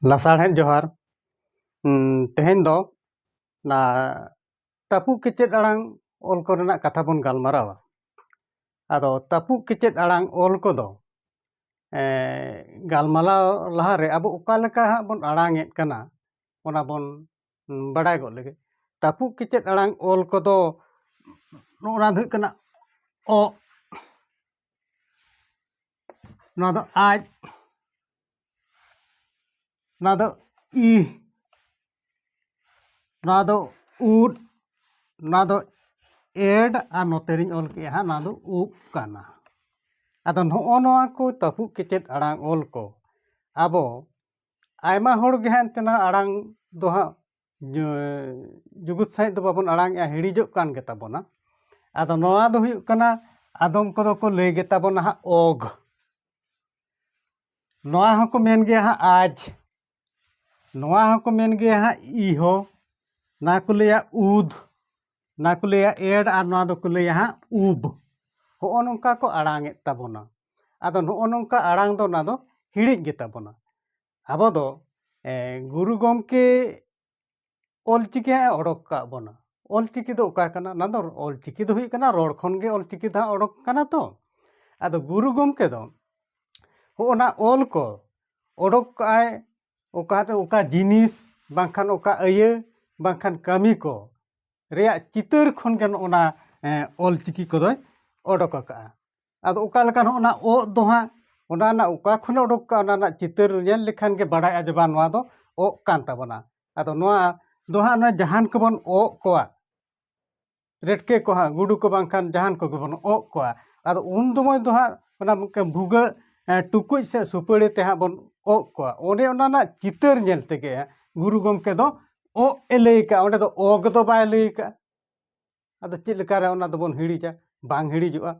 ᱞᱟᱥᱟᱲᱦᱮᱫ ᱡᱚᱦᱟᱨ ᱛᱮᱦᱮᱧ ᱫᱚ ᱚᱱᱟ ᱛᱟᱹᱯᱩᱜ ᱠᱮᱪᱮᱫ ᱟᱲᱟᱝ ᱚᱞ ᱠᱚᱨᱮᱱᱟᱜ ᱠᱟᱛᱷᱟ ᱵᱚᱱ ᱜᱟᱞᱢᱟᱨᱟᱣᱟ ᱟᱫᱚ ᱛᱟᱹᱯᱩᱜ ᱠᱮᱪᱮᱫ ᱟᱲᱟᱝ ᱚᱞ ᱠᱚᱫᱚ ᱜᱟᱞᱢᱟᱨᱟᱣ ᱞᱟᱦᱟᱨᱮ ᱟᱵᱚ ᱚᱠᱟ ᱞᱮᱠᱟ ᱦᱟᱸᱜ ᱵᱚᱱ ᱟᱲᱟᱝᱮᱫ ᱠᱟᱱᱟ ᱚᱱᱟ ᱵᱚᱱ ᱵᱟᱰᱟᱭ ᱜᱚᱫ ᱞᱮᱜᱮ ᱛᱟᱹᱯᱩᱜ ᱠᱮᱪᱮᱫ ᱟᱲᱟᱝ ᱚᱞ ᱠᱚᱫᱚ ᱱᱚᱜᱼᱚ ᱱᱟ ᱫᱚ ᱦᱩᱭᱩᱜ ᱠᱟᱱᱟ ᱚᱜ ᱱᱚᱣᱟ ᱫᱚ ᱟᱡ ᱱᱚᱣᱟ ᱫᱚ ᱤ ᱱᱚᱣᱟ ᱫᱚ ᱩᱫ ᱱᱚᱣᱟ ᱫᱚ ᱮᱰ ᱟᱨ ᱱᱚᱛᱮ ᱨᱤᱧ ᱚᱞ ᱠᱮᱜᱼᱟ ᱦᱟᱸᱜ ᱱᱚᱣᱟ ᱫᱚ ᱩᱵ ᱠᱟᱱᱟ ᱟᱫᱚ ᱱᱚᱜᱼᱚ ᱱᱚᱣᱟ ᱠᱚ ᱛᱟᱹᱯᱩᱜ ᱠᱮᱪᱮᱫ ᱟᱲᱟᱝ ᱚᱞ ᱠᱚ ᱟᱵᱚ ᱟᱭᱢᱟ ᱦᱚᱲ ᱜᱮ ᱦᱟᱸᱜ ᱮᱱᱛᱮ ᱱᱚᱣᱟ ᱟᱲᱟᱝ ᱫᱚ ᱦᱟᱸᱜ ᱡᱩᱜᱩᱫ ᱥᱟᱺᱦᱤᱡ ᱫᱚ ᱵᱟᱵᱚᱱ ᱟᱲᱟᱝᱮᱜᱼᱟ ᱦᱤᱲᱤᱡᱚᱜ ᱠᱟᱱ ᱜᱮᱛᱟ ᱵᱚᱱᱟ ᱟᱫᱚ ᱱᱚᱣᱟ ᱫᱚ ᱦᱩᱭᱩᱜ ᱠᱟᱱᱟ ᱟᱫᱚᱢ ᱠᱚᱫᱚ ᱠᱚ ᱞᱟᱹᱭ ᱜᱮᱛᱟ ᱵᱚᱱᱟ ᱦᱟᱸᱜ ᱚᱜᱽ ᱱᱚᱣᱟ ᱦᱚᱸᱠᱚ ᱢᱮᱱ ᱜᱮᱭᱟ ᱦᱟᱸᱜ ᱟᱡᱽ ᱱᱚᱣᱟ ᱦᱚᱸᱠᱚ ᱢᱮᱱ ᱜᱮᱭᱟ ᱦᱟᱸᱜ ᱤᱦᱚ ᱚᱱᱟ ᱠᱚ ᱞᱟᱹᱭᱟ ᱩᱫᱽ ᱚᱱᱟ ᱠᱚ ᱞᱟᱹᱭᱟ ᱮᱰ ᱟᱨ ᱱᱚᱣᱟ ᱫᱚᱠᱚ ᱞᱟᱹᱭᱟ ᱦᱟᱸᱜ ᱩᱵᱽ ᱦᱚᱜᱼᱚ ᱱᱚᱝᱠᱟ ᱠᱚ ᱟᱲᱟᱝᱮᱫ ᱛᱟᱵᱚᱱᱟ ᱟᱫᱚ ᱱᱚᱜᱼᱚ ᱱᱚᱝᱠᱟ ᱟᱲᱟᱝ ᱫᱚ ᱚᱱᱟ ᱫᱚ ᱦᱤᱲᱤᱡ ᱜᱮᱛᱟ ᱵᱚᱱᱟ ᱟᱵᱚ ᱫᱚ ᱜᱩᱨᱩ ᱜᱚᱢᱠᱮ ᱚᱞ ᱪᱤᱠᱤ ᱦᱟᱸᱜ ᱮ ᱚᱰᱚᱠ ᱟᱠᱟᱫ ᱵᱚᱱᱟ ᱚᱞ ᱪᱤᱠᱤ ᱫᱚ ᱚᱠᱟ ᱠᱟᱱᱟ ᱚᱱᱟ ᱫᱚ ᱚᱞ ᱪᱤᱠᱤ ᱫᱚ ᱦᱩᱭᱩᱜ ᱠᱟᱱᱟ ᱨᱚᱲ ᱠᱷᱚᱱ ᱜᱮ ᱚᱞ ᱪᱤᱠᱤ ᱫᱚ ᱦᱟᱸᱜ ᱚᱰᱚᱠ ᱟᱠᱟᱱᱟ ᱛᱚ ᱟᱫᱚ ᱜᱩᱨᱩ ᱜᱚᱢᱠᱮ ᱫᱚ ᱦᱚᱜᱼᱚᱱᱟ ᱚᱞ ᱠᱚ ᱚᱰᱚᱠ ᱠᱟᱜᱼᱟᱭ ᱚᱠᱟ ᱫᱚ ᱚᱠᱟ ᱡᱤᱱᱤᱥ ᱵᱟᱝᱠᱷᱟᱱ ᱚᱠᱟ ᱟᱹᱭᱟᱹ ᱵᱟᱝᱠᱷᱟᱱ ᱠᱟᱹᱢᱤ ᱠᱚ ᱨᱮᱭᱟᱜ ᱪᱤᱛᱟᱹᱨ ᱠᱷᱚᱱ ᱜᱮ ᱱᱚᱜᱼᱚᱱᱟ ᱚᱞ ᱪᱤᱠᱤ ᱠᱚᱫᱚᱭ ᱚᱰᱚᱠ ᱟᱠᱟᱫᱼᱟ ᱟᱫᱚ ᱚᱠᱟ ᱞᱮᱠᱟ ᱱᱚᱜᱼᱚ ᱱᱟ ᱚᱜ ᱫᱚ ᱦᱟᱸᱜ ᱚᱱᱟ ᱨᱮᱱᱟᱜ ᱚᱠᱟ ᱠᱷᱚᱱᱮ ᱚᱰᱚᱠ ᱠᱟᱜᱼᱟ ᱚᱱᱟ ᱨᱮᱱᱟᱜ ᱪᱤᱛᱟᱹᱨ ᱧᱮᱞ ᱞᱮᱠᱷᱟᱱ ᱜᱮ ᱵᱟᱲᱟᱭᱚᱜᱼᱟ ᱡᱮ ᱵᱟᱝ ᱱᱚᱣᱟ ᱫᱚ ᱚᱜ ᱠᱟᱱ ᱛᱟᱵᱚᱱᱟ ᱟᱫᱚ ᱱᱚᱣᱟ ᱫᱚ ᱦᱟᱸᱜ ᱚᱱᱟ ᱡᱟᱦᱟᱱ ᱠᱚᱵᱚᱱ ᱚᱜ ᱠᱚᱣᱟ ᱨᱮᱴᱠᱮ ᱠᱚ ᱦᱟᱸᱜ ᱜᱩᱰᱩ ᱠᱚ ᱵᱟᱝᱠᱷᱟᱱ ᱡᱟᱦᱟᱱ ᱠᱚᱜᱮ ᱵᱚᱱ ᱚᱜ ᱠᱚᱣᱟ ᱟᱫᱚ ᱩᱱ ᱥᱚᱢᱚᱭ ᱫᱚ ᱦᱟᱸᱜ ᱚᱱᱟ ᱢᱤᱫᱴᱟᱝ ᱵᱷᱩᱜᱟᱹᱜ ᱴᱩᱠᱩᱡ ᱥᱮ ᱥᱩᱯᱟᱹᱲᱤ ᱛᱮ ᱦᱟᱸᱜ ᱵᱚᱱ ᱚᱜ ᱠᱚᱣᱟ ᱚᱸᱰᱮ ᱚᱱᱟ ᱨᱮᱱᱟᱜ ᱪᱤᱛᱟᱹᱨ ᱧᱮᱞ ᱛᱮᱜᱮ ᱜᱩᱨᱩ ᱜᱚᱢᱠᱮ ᱫᱚ ᱚᱜ ᱮ ᱞᱟᱹᱭ ᱠᱟᱜᱼᱟ ᱚᱸᱰᱮ ᱫᱚ ᱚᱜ ᱫᱚ ᱵᱟᱭ ᱞᱟᱹᱭ ᱠᱟᱜᱼᱟ ᱟᱫᱚ ᱪᱮᱫ ᱞᱮᱠᱟᱨᱮ ᱚᱱᱟ ᱫᱚᱵᱚᱱ ᱦᱤᱲᱤᱡᱟ ᱵᱟᱝ ᱦᱤᱲᱤᱡᱚᱜᱼᱟ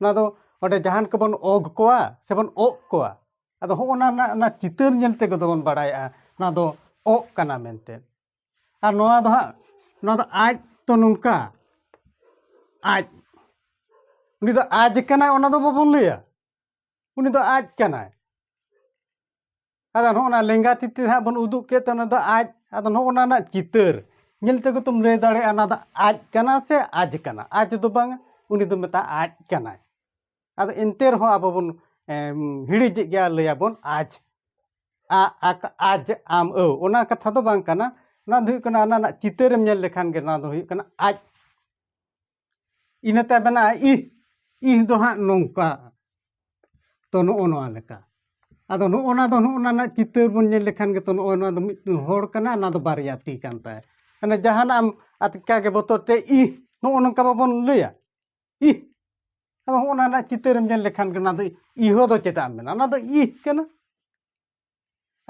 ᱚᱱᱟ ᱫᱚ ᱚᱸᱰᱮ ᱡᱟᱦᱟᱱ ᱠᱚᱵᱚᱱ ᱚᱜᱽ ᱠᱚᱣᱟ ᱥᱮᱵᱚᱱ ᱚᱜ ᱠᱚᱣᱟ ᱟᱫᱚ ᱦᱚᱸᱜᱼᱚ ᱱᱟ ᱨᱮᱱᱟᱜ ᱚᱱᱟ ᱪᱤᱛᱟᱹᱨ ᱧᱮᱞ ᱛᱮᱜᱮ ᱫᱚᱵᱚᱱ ᱵᱟᱲᱟᱭᱟ ᱚᱱᱟ ᱫᱚ ᱚᱜ ᱠᱟᱱᱟ ᱢᱮᱱᱛᱮ ᱟᱨ ᱱᱚᱣᱟ ᱫᱚ ᱦᱟᱸᱜ ᱱᱚᱣᱟ ᱫᱚ ᱟᱡ ᱛᱚ ᱱᱚᱝᱠᱟ ᱟᱡ ᱩᱱᱤ ᱫᱚ ᱟᱡ ᱠᱟᱱᱟᱭ ᱚᱱᱟ ᱫᱚ ᱵᱟᱵᱚᱱ ᱞᱟᱹᱭᱟ ᱩᱱᱤ ᱫᱚ ᱟᱡ ᱠᱟᱱᱟᱭ ᱟᱫᱚ ᱱᱚᱜᱼᱚ ᱱᱟ ᱞᱮᱸᱜᱟ ᱛᱤ ᱛᱮ ᱦᱟᱸᱜ ᱵᱚᱱ ᱩᱫᱩᱜ ᱠᱮᱫ ᱛᱮ ᱚᱱᱟ ᱫᱚ ᱟᱡ ᱟᱫᱚ ᱱᱚᱜᱼᱚ ᱱᱟ ᱨᱮᱱᱟᱜ ᱪᱤᱛᱟᱹᱨ ᱧᱮᱞ ᱛᱮᱜᱮ ᱛᱚᱢ ᱞᱟᱹᱭ ᱫᱟᱲᱮᱭᱟᱜᱼᱟ ᱚᱱᱟ ᱫᱚ ᱟᱡ ᱠᱟᱱᱟ ᱥᱮ ᱟᱡ ᱠᱟᱱᱟ ᱟᱡ ᱫᱚ ᱵᱟᱝᱟ ᱩᱱᱤ ᱫᱚ ᱢᱮᱛᱟᱜ ᱟᱡ ᱠᱟᱱᱟᱭ ᱟᱫᱚ ᱮᱱᱛᱮ ᱨᱮᱦᱚᱸ ᱟᱵᱚ ᱵᱚᱱ ᱦᱤᱲᱤᱡᱮᱫ ᱜᱮᱭᱟ ᱞᱟᱹᱭᱟᱵᱚᱱ ᱟᱡ ᱟ ᱟᱠ ᱟᱡ ᱟᱢ ᱟᱹᱣ ᱚᱱᱟ ᱠᱟᱛᱷᱟ ᱫᱚ ᱵᱟᱝ ᱠᱟᱱᱟ ᱚᱱᱟ ᱫᱚ ᱦᱩᱭᱩᱜ ᱠᱟᱱᱟ ᱚᱱᱟ ᱨᱮᱱᱟᱜ ᱪᱤᱛᱟᱹᱨᱮᱢ ᱧᱮᱞ ᱞᱮᱠᱷᱟᱱ ᱜᱮ ᱱᱚᱣᱟ ᱫᱚ ᱦᱩᱭᱩᱜ ᱠᱟᱱᱟ ᱟᱡ ᱤᱱᱟᱹ ᱛᱟᱭᱚᱢ ᱢᱮᱱᱟᱜᱼᱟ ᱤᱦ ᱤᱦ ᱫᱚ ᱦᱟᱸᱜ ᱱᱚᱝᱠᱟ ᱛᱚ ᱱᱚᱜᱼᱚ ᱱᱚᱣᱟ ᱞᱮᱠᱟ ᱟᱫᱚ ᱱᱚᱜᱼᱚ ᱱᱟ ᱫᱚ ᱱᱚᱜᱼᱚ ᱱᱟ ᱨᱮᱱᱟᱜ ᱪᱤᱛᱟᱹᱨ ᱵᱚᱱ ᱧᱮᱞ ᱞᱮᱠᱷᱟᱱ ᱜᱮᱛᱚ ᱱᱚᱜᱼᱚ ᱱᱚᱣᱟ ᱫᱚ ᱢᱤᱫᱴᱮᱱ ᱦᱚᱲ ᱠᱟᱱᱟ ᱚᱱᱟ ᱫᱚ ᱵᱟᱨᱭᱟ ᱛᱤ ᱠᱟᱱ ᱛᱟᱭᱟ ᱢᱟᱱᱮ ᱡᱟᱦᱟᱱᱟᱜ ᱮᱢ ᱟᱪᱠᱟ ᱜᱮ ᱵᱚᱛᱚᱨ ᱛᱮ ᱤᱦ ᱱᱚᱜᱼᱚ ᱱᱚᱝᱠᱟ ᱵᱟᱵᱚᱱ ᱞᱟᱹᱭᱟ ᱤᱦ ᱟᱫᱚ ᱦᱚᱸᱜᱼᱚ ᱱᱟ ᱨᱮᱱᱟᱜ ᱪᱤᱛᱟᱹᱨᱮᱢ ᱧᱮᱞ ᱞᱮᱠᱷᱟᱱ ᱜᱮ ᱚᱱᱟ ᱫᱚ ᱤᱦᱚ ᱫᱚ ᱪᱮᱫᱟᱜ ᱢᱮᱱᱟᱜᱼᱟ ᱚᱱᱟ ᱫᱚ ᱤᱦ ᱠᱟᱱᱟ